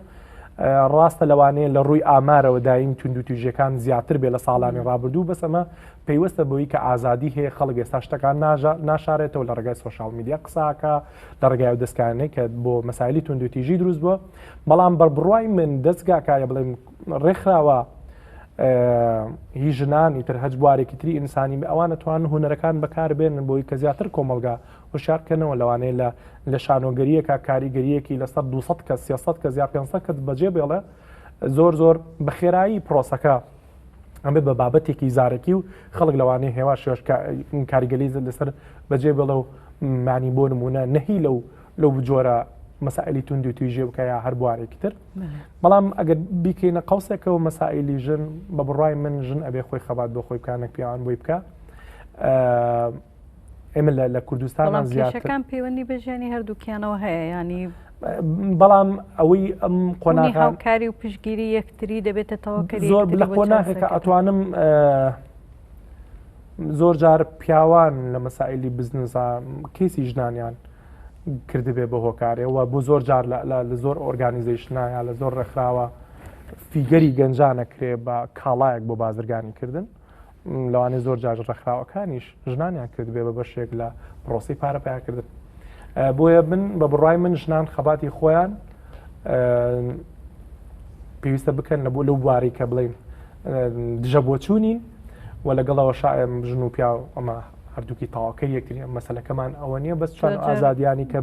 ڕاستە لەوانەیە لە ڕووی ئامارەوە دایم تونند و توژەکان زیاتر بێ لە ساڵانی ڕابردوو بەسەمە پەیوەستە بەوەی کە ئازادی هەیە خەڵک ئێستا شتەکان ناژە ناشارێتەوە لە ڕێگای سۆشال میدیا قساکە لە ڕێگای و دەستکانەی کە بۆ مەسایلی توندوتیژی دروست بووە بەڵام بە بڕای من دەستگاکایە بڵێم ڕێکخراوە هی ژنان ئیتر هەج بوارێکی تری ئینسانی بە ئەوانە توان هوەرەکان بەکاربێنن بۆی کە زیاتر کۆمەلگا هوشارکەنەوە لەوانەیە لە لە شانۆگەریەکە کاریگەریەکی لەسەر 200 کە 300 کە زیاد 500 کە بەجێ بێڵێ زۆر زۆر بەخێرایی پرۆسەکە ئەمە بە بابەتێکی زارەکی و خەڵک لەوانەیە هێوا شێش کاریگەلی لەسەر بەجێ بڵە و معنی بۆ نمونە نەهی لەو لەو بجۆرە مەسائلی تونند و تویژێ بکەیا هەر بوارێکی تر بەڵام ئەگەر بیکەینە قوسێکەوە مەسائلی ژن بە بڕای من ژن ئەبێ خۆی خەبات بۆ خۆی بکانە پیاوان بۆی بکە ئێمە لە کوردستان زیاتەکان پەیوەندی بە ژیانی هەردووکیانەوە هەیە ینی بەڵام ئەوەی ئەم قۆناغکاری و پشگیری یەکتری دەبێتەوە زۆر لە قۆناغێکە ئەتوانم زۆر جار پیاوان لە مەسائلی بزنسا کەسی ژنانیان کردبێ بە هۆکارێەوە بۆ زۆر جار لە زۆر ئۆرگانیزیشنایە لە زۆر ڕێکخراوە فیگەری گەنجانەکرێ بە کاڵایەک بۆ بازرگانی کردن لەوانەیە زۆر جار ڕێکخراوەکانیش ژنانیان کردبێ بە بەشێک لە پرۆسی پارە پیاکردن بۆیە من بە بڕای من ژنان خەباتی خۆیان پێویستە بکەن لە بۆ لەو بواری کە بڵین دژە بۆچوونین و لەگەڵەوە شاعم ژن و پیا ئەمە هەردووکی تاواکە یەکتری ئەم مەسلەکەمان ئەوە نییە بەس چۆن ئازادیانی کە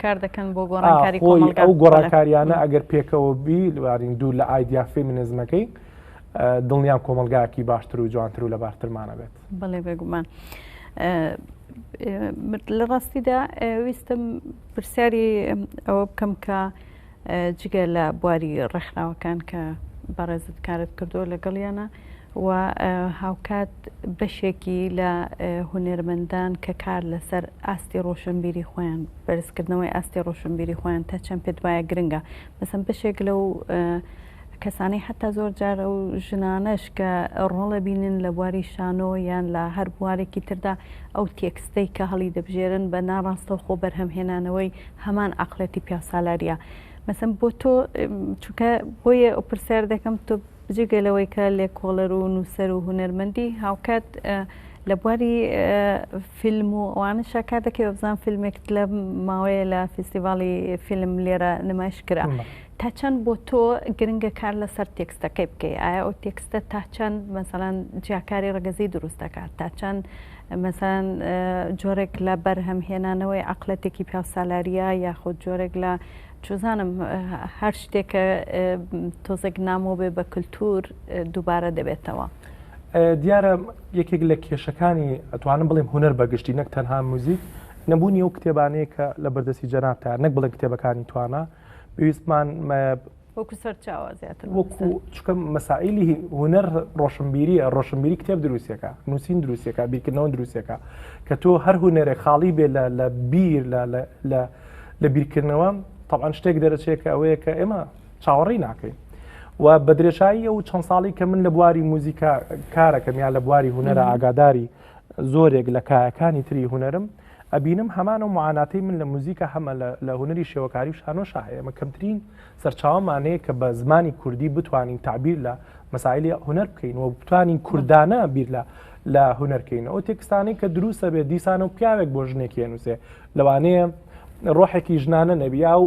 کار دەکەن بۆ گۆڕانکاری ئەو گۆڕانکاریانە ئەگەر پێکەوە بی لەوارین دوور لە ئایدیا فێمینزمەکەی دڵنیام کۆمەلگایەکی باشتر و جوانتر و لەبارترمانە بێت بەڵێ بێگومان. لە ڕاستیدا ویستم پرسیاری ئەوە بکەم کە جگە لە بواری ڕێکخراوەکان کە بەڕێزت کارت کردو لەگەڵیانە و هاوکات بەشێکی لە هونەرمەندان کە کار لەسەر ئاستی ڕۆشنبیری خۆیان بەرزکردنەوەی ئاستی ڕۆشنبیری خۆیان تا چەند پێت وایە گرنگە بەسم بەشێک لەو کەسانی حەتا زۆر جار ئەو ژنانەش کە ڕۆڵ ئەبینن لە بواری شانۆ یان لە هەر بوارێکی تردا ئەو تێکستەی کە هەڵی دەبژێرن بە ناڕاستەوخۆ بەرهەم هێنانەوەی هەمان عەقڵێتی پیاوسالاریە مەسەن بۆ تۆ چونکە بۆیە ئەو پرسیار دەکەم تۆ جگە لەوەی کە لێکۆڵەر و نووسەر و هونەرمەندی هاوکات لە بواری فیلم و ئەوانە شاکار دەکەی بزان فیلمێکت لە ماوەیە لە فیستیڤاڵی فیلم لێرە نمایش کرا تا چەند بۆ تۆ گرنگە کار لەسەر تێکستەکەی بکەی ئایا ئەو تێکستە تا چەند مەسەلەن جیاکاری ڕەگەزی دروست دەکات تا چەند مەسەلەن جۆرێک لە بەرهەم هێنانەوەی عقلەتێکی پیاوسالاریە یاخود جۆرێک لە چزانم هەر شتێکە تۆزێک نامۆ بێ بە کللتور دووبارە دەبێتەوە. دیارە یەکێک لە کێشەکانی ئەتوانم بڵێم هوەر بەگشتی نەک تەنها موزیک نەبوونی ئەو کتێبانەیە کە لە بەردەستی جەنابتە نەک بڵێ کتێبەکانی توانە پێویستمان وەکو سەرچاوە زیاتر وەکو چکە مەسائلی هوەر ڕۆشنبیریە ڕۆشنبیری کتێب دروستەکە نووسین دروستەکە بیرکردنەوە دروستەکە کە تۆ هەر هوەرێک خاڵی بێ لە بیر لە لە بیرکردنەوە تاان شتێک دەرەچێت کە ئەوەیە کە ئێمە چاوەڕی ناکەین. و بە درێژایی ئەو چەند ساڵی کە من لە بواری موزیکا کارەکەم یا لە بواری هوەرە ئاگاداری زۆرێک لە کایەکانی تری هوەرم ئەبینم هەمان ئەو معاناتەی من لە موزیکا هەمە لە هونەری شێوەکاری و شانۆشا هەیە ئێمە کەمترین سەرچاوەمان هەیە کە بە زمانی کوردی بتوانین تعبیر لە مەسایلی هونەر بکەین و بتوانین کوردانە بیر لە لە هونەرکەین ئەو تێکستانی کە دروستە بێت دیسان و پیاوێک بۆ ژنێکی هێنووسێ لەوانەیە ڕۆحێکی ژنانە نەبیا و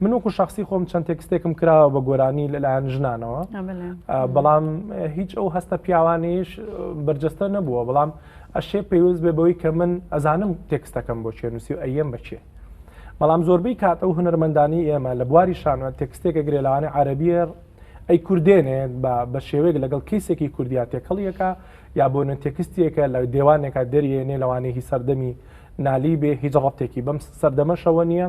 من وەکو شخصی خۆم چەند تێکستێکم کراوە بە گۆرانی لەلایەن ژنانەوە بەڵام هیچ ئەو هەستە پیاوانیش بەرجەستە نەبووە بەڵام ئەشێ پێویست بێ بەوەی کە من ئەزانم تێکستەکەم بۆ چێنووسی و ئەیەم بەچێ بەڵام زۆربەی کات ئەو هونەرمەندانی ئێمە لە بواری شانوە تێکستێکە گرێلاوانی عربیە ئەی کوردێنێت بە بە شێوەیەک لەگەڵ کەیسێکی کوردیا تێکەڵیەکە یا بۆ نە تێکستیەکە لە دێوانێکە دەریێنێ لەوانەیە هی سەردەمی نالی بێ هیچ ڕەتێکی بەم سەردەمەشەوە نییە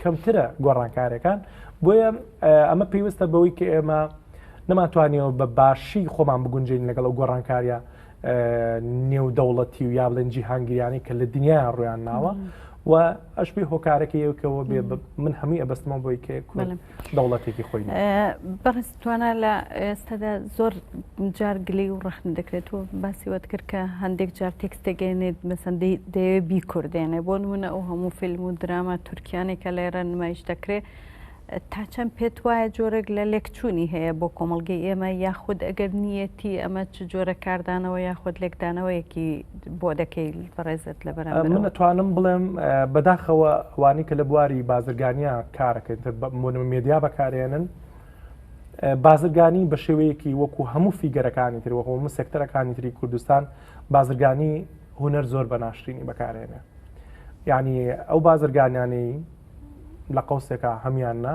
کەمترە گۆڕانکارەکان بۆیە ئەمە پێویستە بەوەی کە ئێمە نەماتوانیەوە بە باشی خۆمان بگونجین لەگەڵ ئەو گۆڕانکاریە نێودەوڵەتی و یا بڵێن جیهانگریانی کە لە دنیا ڕویان ناوە و ئەش پێی هۆکارەکە یەکەوە بێ من هەمووی ئەبستمە بۆی کە دەوڵەتێکی خۆی بەڕست توانا لە ئێستادا زۆر جار گلەی و ڕەخنە دەکرێت و باسی وەت کرد کە هەندێک جار تێکستێک گەێنێت مەسەن دەیەوێت بیکوردێنێ بۆ نمونە ئەو هەموو فیلم و دراما تورکیانێک کە لێرە نمایش دەکرێت تا چەند پێت وایە جۆرێک لە لێکچوونی هەیە بۆ کۆمەڵگەی ئێمە یاخود ئەگەر نیەتی ئەمە چ جۆرە کاردانەوە یاخود لێکدانەوەیەکی بۆ دەکەی بەڕێزت لە بەر من دەتوانم بڵێم بەداخەوە وانی کە لە بواری بازرگانیا کارەکەن مێدیا بەکارێنن بازرگانی بە شێوەیەکی وەکو هەموو فیگەرەکانی تر وەکو هەموو سێکتەرەکانی تری کوردستان بازرگانی هونەر زۆر بە ناشرینی بەکارێنێ یعنی ئەو بازرگانیانەی لە قوسێکە هەمان نا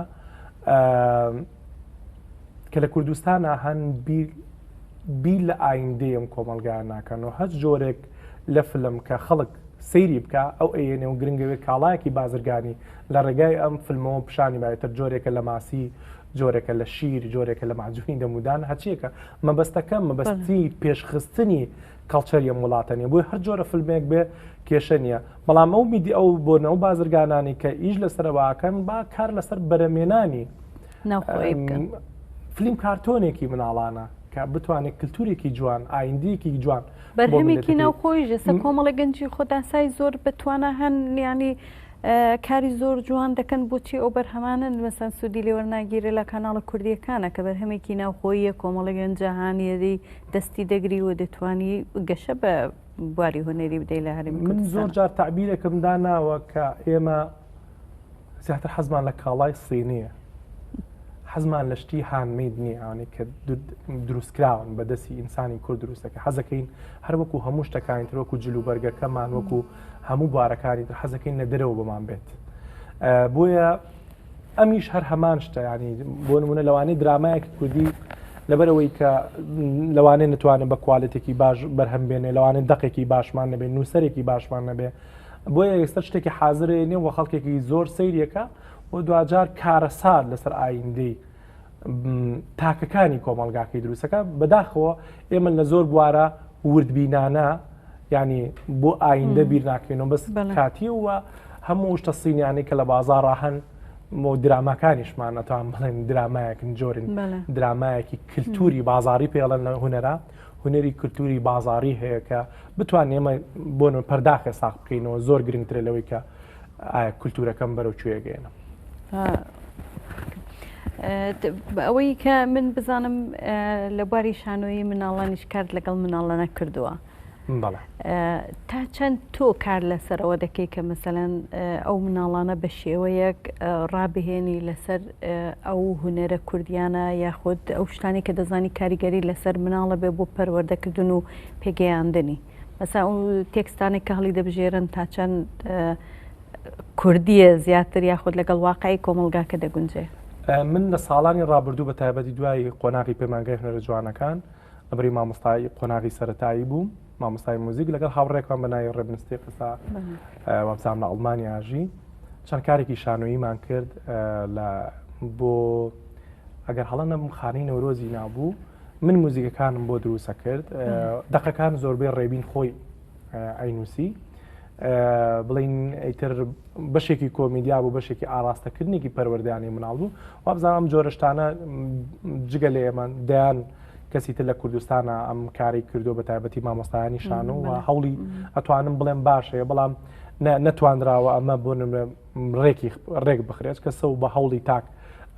کە لە کوردستانە هەن بی لە ئایندەیەم کۆمەلگا ناکەن و هەست جۆرێک لە فلم کە خەڵک سەیری بکە ئەو ئەیەنێ و گرنگەوێت کاڵایەکی بازرگانی لە ڕێگای ئەم فلمەوە پیشانی با ئیتر جۆرێکە لە ماسی جۆرێکە لە شیر جۆرێکە لە ماجوونی دەمودان هەچیەکە مەبەستەکە مەبەستی پێشخستنی کەڵچەری ئەم وڵاتە نیە بۆی هەر جۆرە فلمێک بێ کێشە نییە بەڵام ئەو میدی ئەو بۆنە و بازرگانانی کە ئیش لەسەرواکەن با کار لەسەر بەرەمێنانی فلیم کارتۆنێکی مناڵانە کە بتوانێت کللتورێکی جوان ئایندەیەکی جوان بەرهەمێکی ناوخۆی ژێسە کۆمەڵە گەنجی خۆداسای زۆر بەتوانە هەن نیانی کاری زۆر جوان دەکەن بۆچی ئەو بەرهەمانە مەسەن سوودی لێوەرناگیرێ لە کاناڵە کوردیەکانە کە بەرهەمێکی ناوخۆییە کۆمەڵگەن جاهانیەری دەستی دەگری و دەتوانی گەشە بە بواری هونەری بدەی لە هەرمی من زۆر جار تعبیرێکم داناوە کە ئێمە زیاتر حەزمان لە کاڵای سینیە حەزمان لە شتی هاندمید نییانێک کە دروستکراون بە دەستی ئینسانی کورد دروستەکە حەزەکەین هەروەکو هەموو شتەکانی تروەکو جلوبەرگەکەمان وەکو هەموو بوارەکانی تر حەزەکەین لە دەرەوە بۆمان بێت بۆیە ئەمیش هەر هەمان شتە ینی بۆ نمونە لەوانەی درامایەک کوردی لەبەرەوەی کە لەوانێ نتوانێت بە کوالێتێکی باش بەرهەم بێنێ لەوانێت دقێکی باشمان نەبێت نووسەرێکی باشمان نەبێ بۆیە ئێستا شتێکی حاضرێنێ وە خەڵکێکی زۆر سیرەکە و دوجار کارەسات لەسەر ئایندەی تاکەکانی کۆمەلگاکەی دروستەکە بەداخەوە ئێمە لە زۆر بوارە وردبینانە ینی بۆ ئایندە بیر ناکەینەوە بەس کاتی و هەموو شتە سینیانی کە لە بازار هەن مۆ دراماکانیشمان ئەتوان بڵێن درامایەکن جۆرن درامایەکی کللتوری بازاری پێڵەن لە هوەرە هوەری کللتوری بازاری هەیە کە بتوان ئێمە بۆن پەرداخێ ساخ بکەینەوە زۆر گرنگترە لەوەی کە ئایا کولتوورەکەم بەرەو کوێ گەێنم؟ ئەوەی کە من بزانم لە باری شانۆیی مناڵانیش کارد لەگەڵ مناڵانە کردووە تا چەند تۆ کار لەسەرەوە دەکەی کە مەسەەن ئەو مناڵانە بە شێوەیەک ڕابهێنی لەسەر ئەو هوەرە کوردیانە یاخود ئەو شتانی کە دەزانی کاریگەری لەسەر مناڵە بێ بۆ پەروەردەکردن و پێگەیاندنی. مەسەن ئەو تێکستانێک کە هەڵی دەبژێرن تا چەند کوردیە زیاتر یاخود لەگەڵ واقعی کۆمەلگاکە دەگونجێ من لە ساڵانی ڕابردوو بە تایبەتی دوای قۆناغی پەیمانگای هەرە جوانەکان ئەبری مامۆستای قۆناغی سەتایی بووم مامۆستای موزیک لەگەڵ هاوڕێکمان بەناوی ڕێبنستی قسا وابزان لە ئەڵمانیاژی چەند کارێکی شانۆییمان کرد لە بۆ ئەگەر هەڵە نەبم خانەی نەورۆزی نابوو من موزیکەکانم بۆ دروسە کرد دقەکان زۆربەی ڕێبین خۆی ئەینوسی بڵین ئەیتر بەشێکی کۆمیدیا بوو بەشێکی ئاراستەکردنێکی پەروەردانی مناڵ بوو وابزانام جۆرەشتانە جگە لە ئێمە دەیان کەسی تر لە کوردستانە ئەم کاری کردو بە تایبەتی مامۆستایانی شانۆ و هەوڵی ئەتوانم بڵێم باشەیە بەڵام نەتوانراوە ئەمە بۆ نمرە ڕێکی ڕێک بخرێت کە سەو بە هەوڵی تاک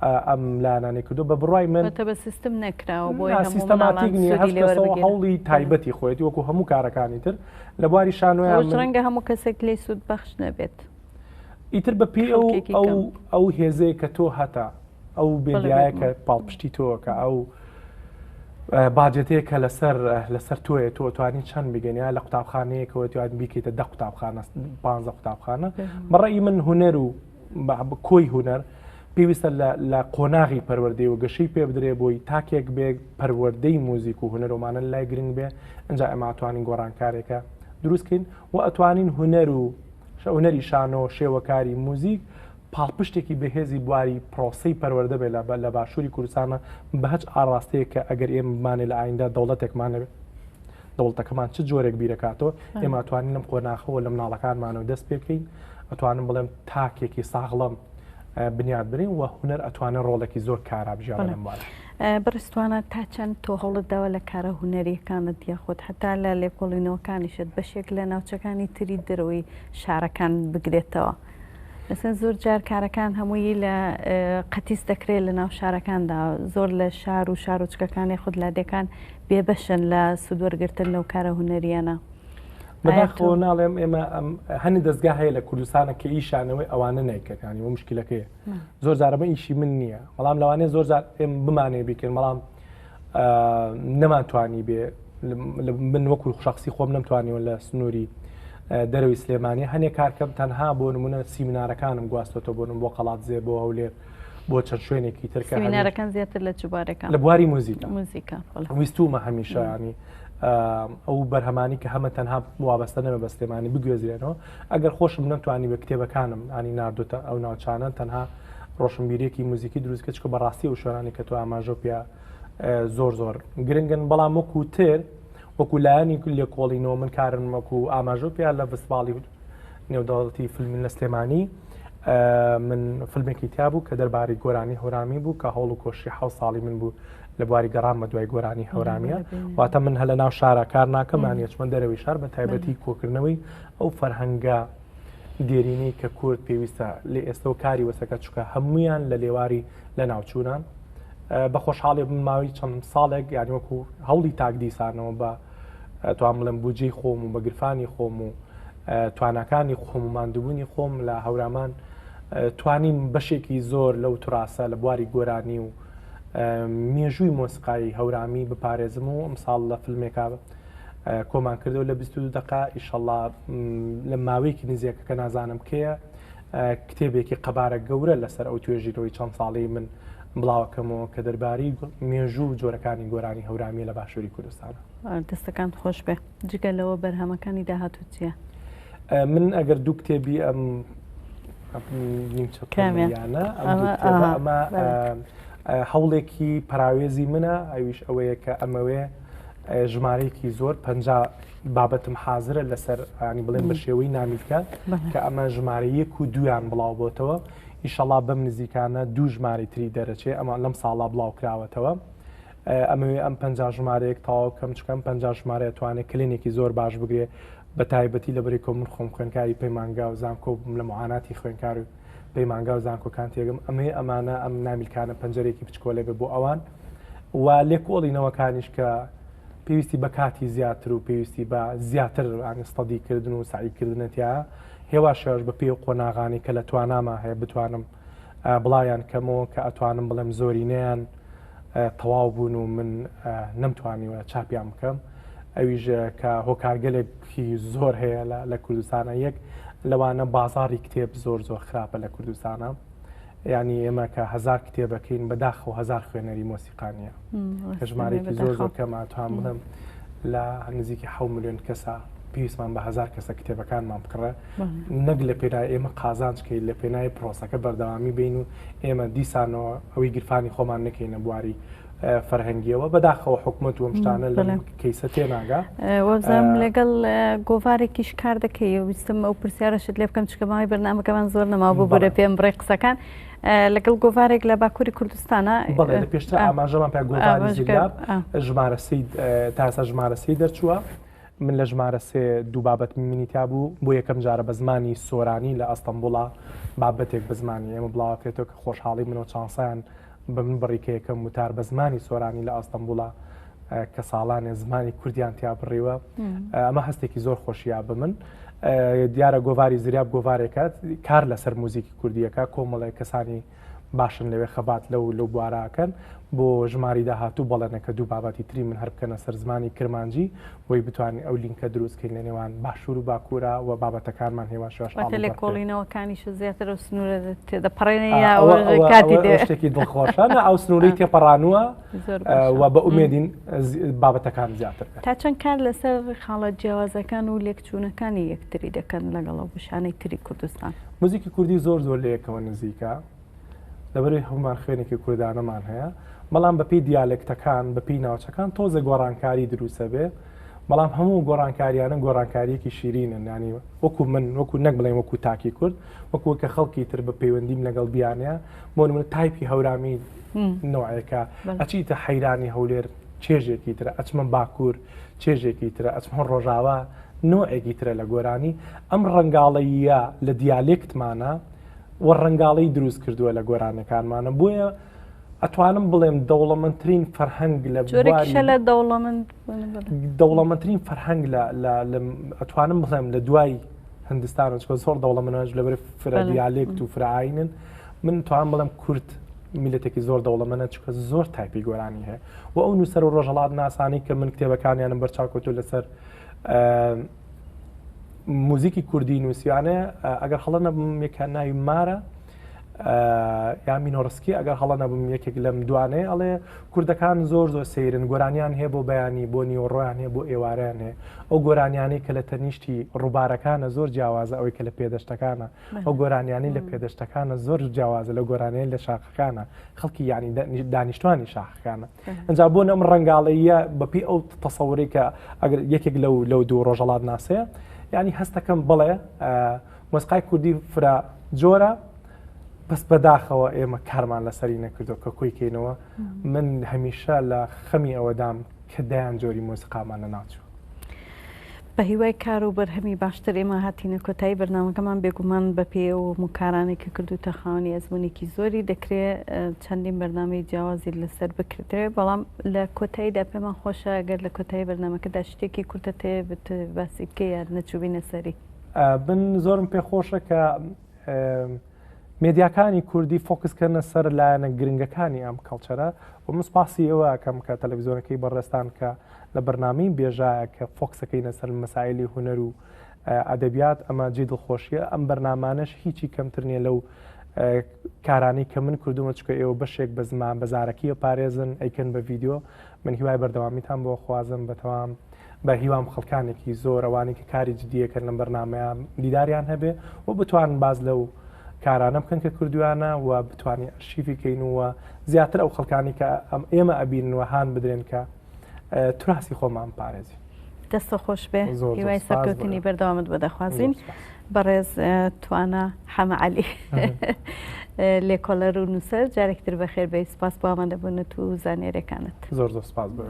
ئەم لایەنانی کردو بە بڕای من بە سیستم نەکراوە بۆ سیستەماتیک هەوڵی تایبەتی خۆێتی وەکو هەموو کارەکانی تر لە بواری شانۆیان ڕەنگە هەموو کەسێک لی سوود بەخش نەبێت ئیتر بە پێ ئەو هێزەیە کە تۆ هەتا ئەو بێدیایە کە پاڵپشتی تۆوە کە ئەو باجێتەیە کە لەسەر لەسەر تۆیە تۆ توانی چەند بگەنیا لە قوتابخانەیەکەوە توان بیکەیتە دە قوتابخانە پ قوتابخانە بەڕی من هوەر و کۆی هوەر پێویستە لە قۆناغی پەروەردەی و گەشەی پێ بدرێ بۆی تاکێک بێ پەروەردەی موزیک و هوەرۆمانە لای گرنگ بێ ئەجا ئەماتوانین گۆڕانکارێکە دروستکەین و ئەتوانین هوەر و شەونەری شانۆ شێوەکاری موزیک پاڵپشتێکی بەهێزی بواری پرۆسەی پەروەردە بێت لە باشوری کوردستانە بەهچ ئاڕاستەیەک کە ئەگەر ئێمە بمانێ لە ئایندە دەوڵەتێکمان نەبێت دەوڵەتەکەمان چ جۆرێک بیرەکاتەوە ئێمە توانین لەم قۆناخەوە لە مناڵەکانمانەوە دەست پێکەین ئەتوانم بڵێم تاکێکی ساغڵم بنیاد برین و هوەر ئەتوانە ڕۆڵێکی زۆر کارا بژیان بڕستوانە تا چەند تۆ هەوڵت داوە لە کارە هوەریەکانت دیاخۆت هەتا لە لێکۆڵینەوەکانیشت بەشێک لە ناوچەکانی تری دەرەوەی شارەکان بگرێتەوە. ئەسن زۆر جار کارەکان هەمووی لە قەتیس دەکرێت لە ناو شارەکاندا زۆر لە شار و شارۆچکەکانی خود لادەکان بێبەشن لە سوودوەرگتن لەو کارە هوەریانە. بەداخۆ ناڵێم ئێمە هەنی دەستگا هەیە لە کوردستانە کە ئیشانەوەی ئەوانە نیکەکانی و مشکلەکەی زۆر زارمە ئیشی من نییە بەڵام لەوانێ زۆر بمانێ بیکەن بەڵام نەمانتوانی بێ من وەکو شخصی خۆم نەمتوانیەوە لە سنووری دەرەوەی سلێمانی هەنێک کارکەم تەنها بۆ نمونە سیمینارەکانم گواستۆتە بۆنم بۆ قەڵات زێ بۆ هەولێر بۆ چەند شوێنێکی ترکە هەنارەکان زیاتر لە جوبارەکە لە بواری موزیکە موزیکە ویستومە هەمیشانی ئەو بەرهەمانی کە هەمە تەنها وابەستە نەمە بەستێمانی بگوێزرێنەوە ئەگەر خۆشم نەمتوانیبێ کتێبەکانم انی ناردۆتە ئەو ناوچانە تەنها ڕۆشنبیریەکی موزیکی دروست کە چکە بەڕاستی ئەو شوێنانی کە تۆ ئاماژەو پێ زۆر زۆر گرنگن بەڵام وەکو تر وەکو لایەنی لێ کۆڵینەوە من کارم وەکو ئاماژە پێ لە فستباڵی نێودەوڵەتی فیلمی لە سلێمانی من فیلمێکی تیا بوو کە دەرباری گۆرانی هەورامی بوو کە هەوڵ و کۆشی حو ساڵی من بوو لە بواری گەڕان بە دوای گۆرانی هەورامیە واتە من هە لە ناو شارە کار ناکەمانیەچمە دەرەوەی شار بە تایبەتی کۆکردنەوەی ئەو فەرهەنگە دێرینەی کە کورد پێویستە لە ئێستەوە کاری وەسەکە چکە هەمویان لە لێواری لە ناوچوونە بە خۆشحاڵێ بن ماوەی چەند ساڵێک یانی وەکو هەوڵی تاک دیسانەوە بە توان بڵێن بجێی خۆم و بەگرفانی خۆم و توانەکانی خۆم و مادوبوونی خۆم لە هەورامان توانیم بەشێکی زۆر لەو تراسە لە بواری گۆرانی و مێژووی مۆسیقایی هەورامی بپارێزم و ئەمساڵ لە فیلمێکا کۆمان کردەوە لە بیست و دوو دەقە ئیشەڵا لە ماوەیەکی نزیکە کە نازانم کێیە کتێبێکی قەبارە گەورە لەسەر ئەو توێژینەوەی چەند ساڵی من بڵاوەکەمەوە کە دەربارەی مێژوو و جۆرەکانی گۆرانی هەورامیە لە باشووری کوردستانە دەستەکان خۆش بێ جگە لەوە بەرهەمەکانی داهاتوو چیە من ئەگەر دوو کتێبی ئەم نیمچەکانیانە ئەمە هەوڵێکی پراوێزی منە ئەویش ئەوەیە کە ئەمەوێ ژمارەیەکی زۆر پەنجا بابەتم حازرە لەسەر ینی بڵێن بە شێوەی نامیلکە کە ئەمە ژمارە یەک و دویان بڵاو بۆتەوە ئیشەڵا بەم نزیکانە دوو ژماری تری دەرەچێ ئەمە لەم ساڵا بڵاو کراوەتەوە ئەمەوێ ئەم پنج ژمارەیەک تاوا بکەم چکەم پنج ژمارە توانێت کلێنێکی زۆر باش بگرێ بە تایبەتی لە بری کۆمن خۆم خوێنکاری پەیمانگا و زانکۆ بووم لە معاناتی خوێنکار و پەیمانگا و زانکۆکان تێگەم ئەمەیە ئەمانە ئەم نامیلکانە پەنجەرێکی بچکۆلێ بێ بۆ ئەوان و لێکۆڵینەوەکانیش کە پێویستی بە کاتی زیاتر و پێویستی بە زیاتر ئامیستەدیکردن و سعیکردنەتیا هێوا شێواش بە پێ و قۆناغانی کە لە تواناما هەیە بتوانم بڵاویان کەمەوە کە ئەتوانم بڵێم زۆرینەیان تەواو بوون و من نەمتوانیوە چاپیان بکەم ئەویش کە هۆکارگەلێکی زۆر هەیە لە کوردستانە یەک لەوانە بازاری کتێب زۆر زۆر خراپە لە کوردستانە ینی ئێمە کە هزار کتێبەکەین بەداخ و هزار خوێنەری مۆسیقانیە کە ژمارەیەکی زۆر زۆر کەمان توان بڵم لە نزیکی ح میلیۆن کەسە پێویستمان بە هزار کەسە کتێبەکانمان بکڕە نەک لە پێنای ئێمە قازانچکەی لە پێنای پرۆسەکە بەردەوامی بین و ئێمە دیسانەوە ئەوی گرفانی خۆمان نەکەینە بواری فەرهەنگیەوە بەداخەوە حکوومەت وم شتانە لە کەیسە تێناگا وەزم لەگەڵ گۆڤارێکیش کار دەکەی ویستم ئەو پرسیارەشت لێ بکەم چکەماوی بەرنمەکەمان زۆر نەما بۆ بەرە پێم بڕێ قسەکان لەگەڵ گۆڤارێک لە باکووری کوردستانە پێشتر ئاماژەمان پێ گۆڤاری ژمارە سی تاسە ژمارە سی دەرچووە من لە ژمارە سێ دوو بابەت منی تیابوو بۆ یەکەم جارە بە زمانی سۆرانی لە ئەستەمبوڵا بابەتێک بە زمانی ئێمە بڵاوەکرێتەوە کە خۆشحاڵی منەوە چانسیان بە من بڕی کە یەکەم وتار بە زمانی سۆرانی لە ئەستەمبوڵا کە ساڵانێ زمانی کوردیان تیا بڕیوە ئەمە هەستێکی زۆر خۆشیە بە من دیارە گۆڤاری زریاب گۆڤارێکات کار لەسەر موزیکی کوردیەکە کۆمەڵێک کەسانی باشن لەوێ خەبات لەو لەو بوارە ئەکەن بۆ ژماری داهاتوو بەڵێنە کە دوو بابەتی تری من هەر بکەنە سەر زمانی کرمانجی بۆی بتوانین ئەو لینکە دروستکەین لە نێوان باشوور و باکوورە و بابەتەکانمان هێواش لێکۆڵینەوەکانیش زیاتر و سنوورە تێدەپەڕێنێکی دڵخۆشانە ئەو سنووری تێپەڕانوە و بە ئومێدین بابەتەکان زیاتر تا چەند کار لەسەر خاڵە جیاوازەکان و لێک چوونەکانی یەکتری دەکەن لەگەڵ ئەو بەشانەی تری کوردستان. موزیکی کوردی زۆر زۆر لە یەکەوە نزیکە، لەبەرئەوەی هەموومان خوێنێکی کوردانەمان هەیە، بەڵام بە پێی دیالێکتەکان، بە پێی ناوچەکان تۆزێ گۆڕانکاری دروست ئەبێ، بەڵام هەموو گۆڕانکارییانە گۆڕانکارییەکی شیرینن، یانی وەکوو من، وەکوو نەک بڵێین وەکوو تاکی کورد، وەکوو کە خەڵکی تر بە پەیوەندیم لەگەڵ بیانەیە، بۆ نموونە تایپی هەورامی نەوعێکە، ئەچیتە حەیرانی هەولێر چێژێکی ترە، ئەچمە باکوور، چێژێکی ترە ئەچمهۆ ڕۆژاوا نۆعێکی ترە لە گۆرانی ئەم ڕەنگاڵەییە لە دیالێکتمانە و ڕەنگاڵی دروست کردووە لە گۆرانەکانمانە بۆیە ئەتوانم بڵێم دەوڵەمەندترین فەرهەنگ لە لە دەوڵەمەند دەوڵەمەندترین فەرهەنگ ئەتوانم بڵێم لە دوای هندستان چکۆ زۆر دەوڵەمەنەوەش لەبەر فرەدیالێکت و فرعاینن من توان بڵم کورت میلەتێکی زۆر دەوڵەمەە چکە زۆر تایپی گۆرانی هەیە و ئەو نووسەر و ڕۆژهەڵاتناسانەی کە من کتێبەکانیانم بەرچاوکەوتو لەسەر موزیکی کوردی نووسیانەیە ئەگەر هەڵە نەبم یەکە ناوی مارە یا مینۆڕسکی ئەگەر هەڵە نەبم یەکێک لەم دوانەیە ئەڵێ کوردەکان زۆر زۆر سەیرن گۆرانیان هەیە بۆ بەیانی بۆ نیوەڕۆیان هەیە بۆ ئێوارەیان هەیە ئەو گۆرانیانەی کە لە تەنیشتی ڕووبارەکانە زۆر جیاوازە ئەوەی کە لە پێدەشتەکانە ئەو گۆرانیانی لە پێدەشتەکانە زۆر جیاوازە لە گۆرانیان لە شاخەکانە خەڵکی یعنی دانیشتوانی شاخەکانە ئەجا بۆ نەم ڕنگاڵەیە بەپی ئەو تەسەوری کە ئەگەر یەکێک لەو لەو دوو ڕۆژەڵات ناسەیە یعنی هەستەکەم بڵێ مۆسقای کوردی فرا جۆرە بەس بەداخەوە ئێمە کارمان لەسەری نەکردو کە کۆی کەینەوە من هەمیشە لە خەمی ئەوەدام کە دەیان جۆری مۆسیقامان لە ناچوو بەهیوای کار و بەرهەمی باشتر ئێمە هاتینە کۆتایی بەرنامەکەمان بێگومان بەپێی ئەو هەموو کارانەی کە کردووتە خاوەنی ئەزموونێکی زۆری دەکرێ چەندین بەرنامەی جیاوازی لەسەر بکردرێ بەڵام لە کۆتاییدا پێمان خۆشە گەر لە کۆتایی بەرنامەکەدا شتێکی کورتە تێ بت باسی بکەی یاد نەچووبینە سەری بن زۆرم پێ خۆشە کە مێدیاکانی کوردی فۆکسکردنە سەر لایەنە گرنگەکانی ئەم کەڵچەرە و مسپاسی ئەوە کەم کە تەلەڤزیۆنەکەی بەڕێستان کە لە بەرنامەی بێژایە کە فۆکسەکەینە سەر مەسایلی هونەر و ئەدەبیات ئەمە جێی دڵخۆشیە ئەم بەرنامانەش هیچی کەمتر نیە لەو کارانەی کە من کردومە چکە ئێوە بەشێک بە زمان بەزارەکیە پارێزن ئەیکەن بە ڤیددیو من هیوای بەردەوامیتان بۆ خوازم بەتەوام بە هیوام خەڵکانێکی زۆر ئەوانی کە کاری جدیەکەن لەم بەرنمەیە دیداریان هەبێ و بتوان باز لەو کارانە بکەن کە کردویانە و بتوانین ئەرشیفیکەین ووە زیاتر ئەو خەڵکانی کە ئەم ئێمە ئەبین وە هاان بدرێن کە تراسی خۆمان پارێزی دەستە خۆش بێ هیوای سەرکەوتنی بەردەوامت بە دەخوازین بەڕێز توانە حەمەعالی لێکۆلەر و نووسەر جارێکتر بە خێر بە سپاس بۆ ئامادەبوونت و زانێرەکانت زۆر زۆر سپاس بە.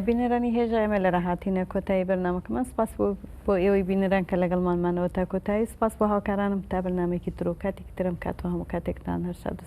بینەرانی هێژا ئێمە لە ڕاهاتینە کۆتایی بەرنمەکەمان سپاس بۆ بۆ ئێوەی بینەران کە لەگەڵمانمانەوە تا کۆتایی سپاس بۆ هاوکارانم تا بەرنمێکی درۆکاتێک ترم کاتەوە هەموو کاتێکتان هەرسا دوست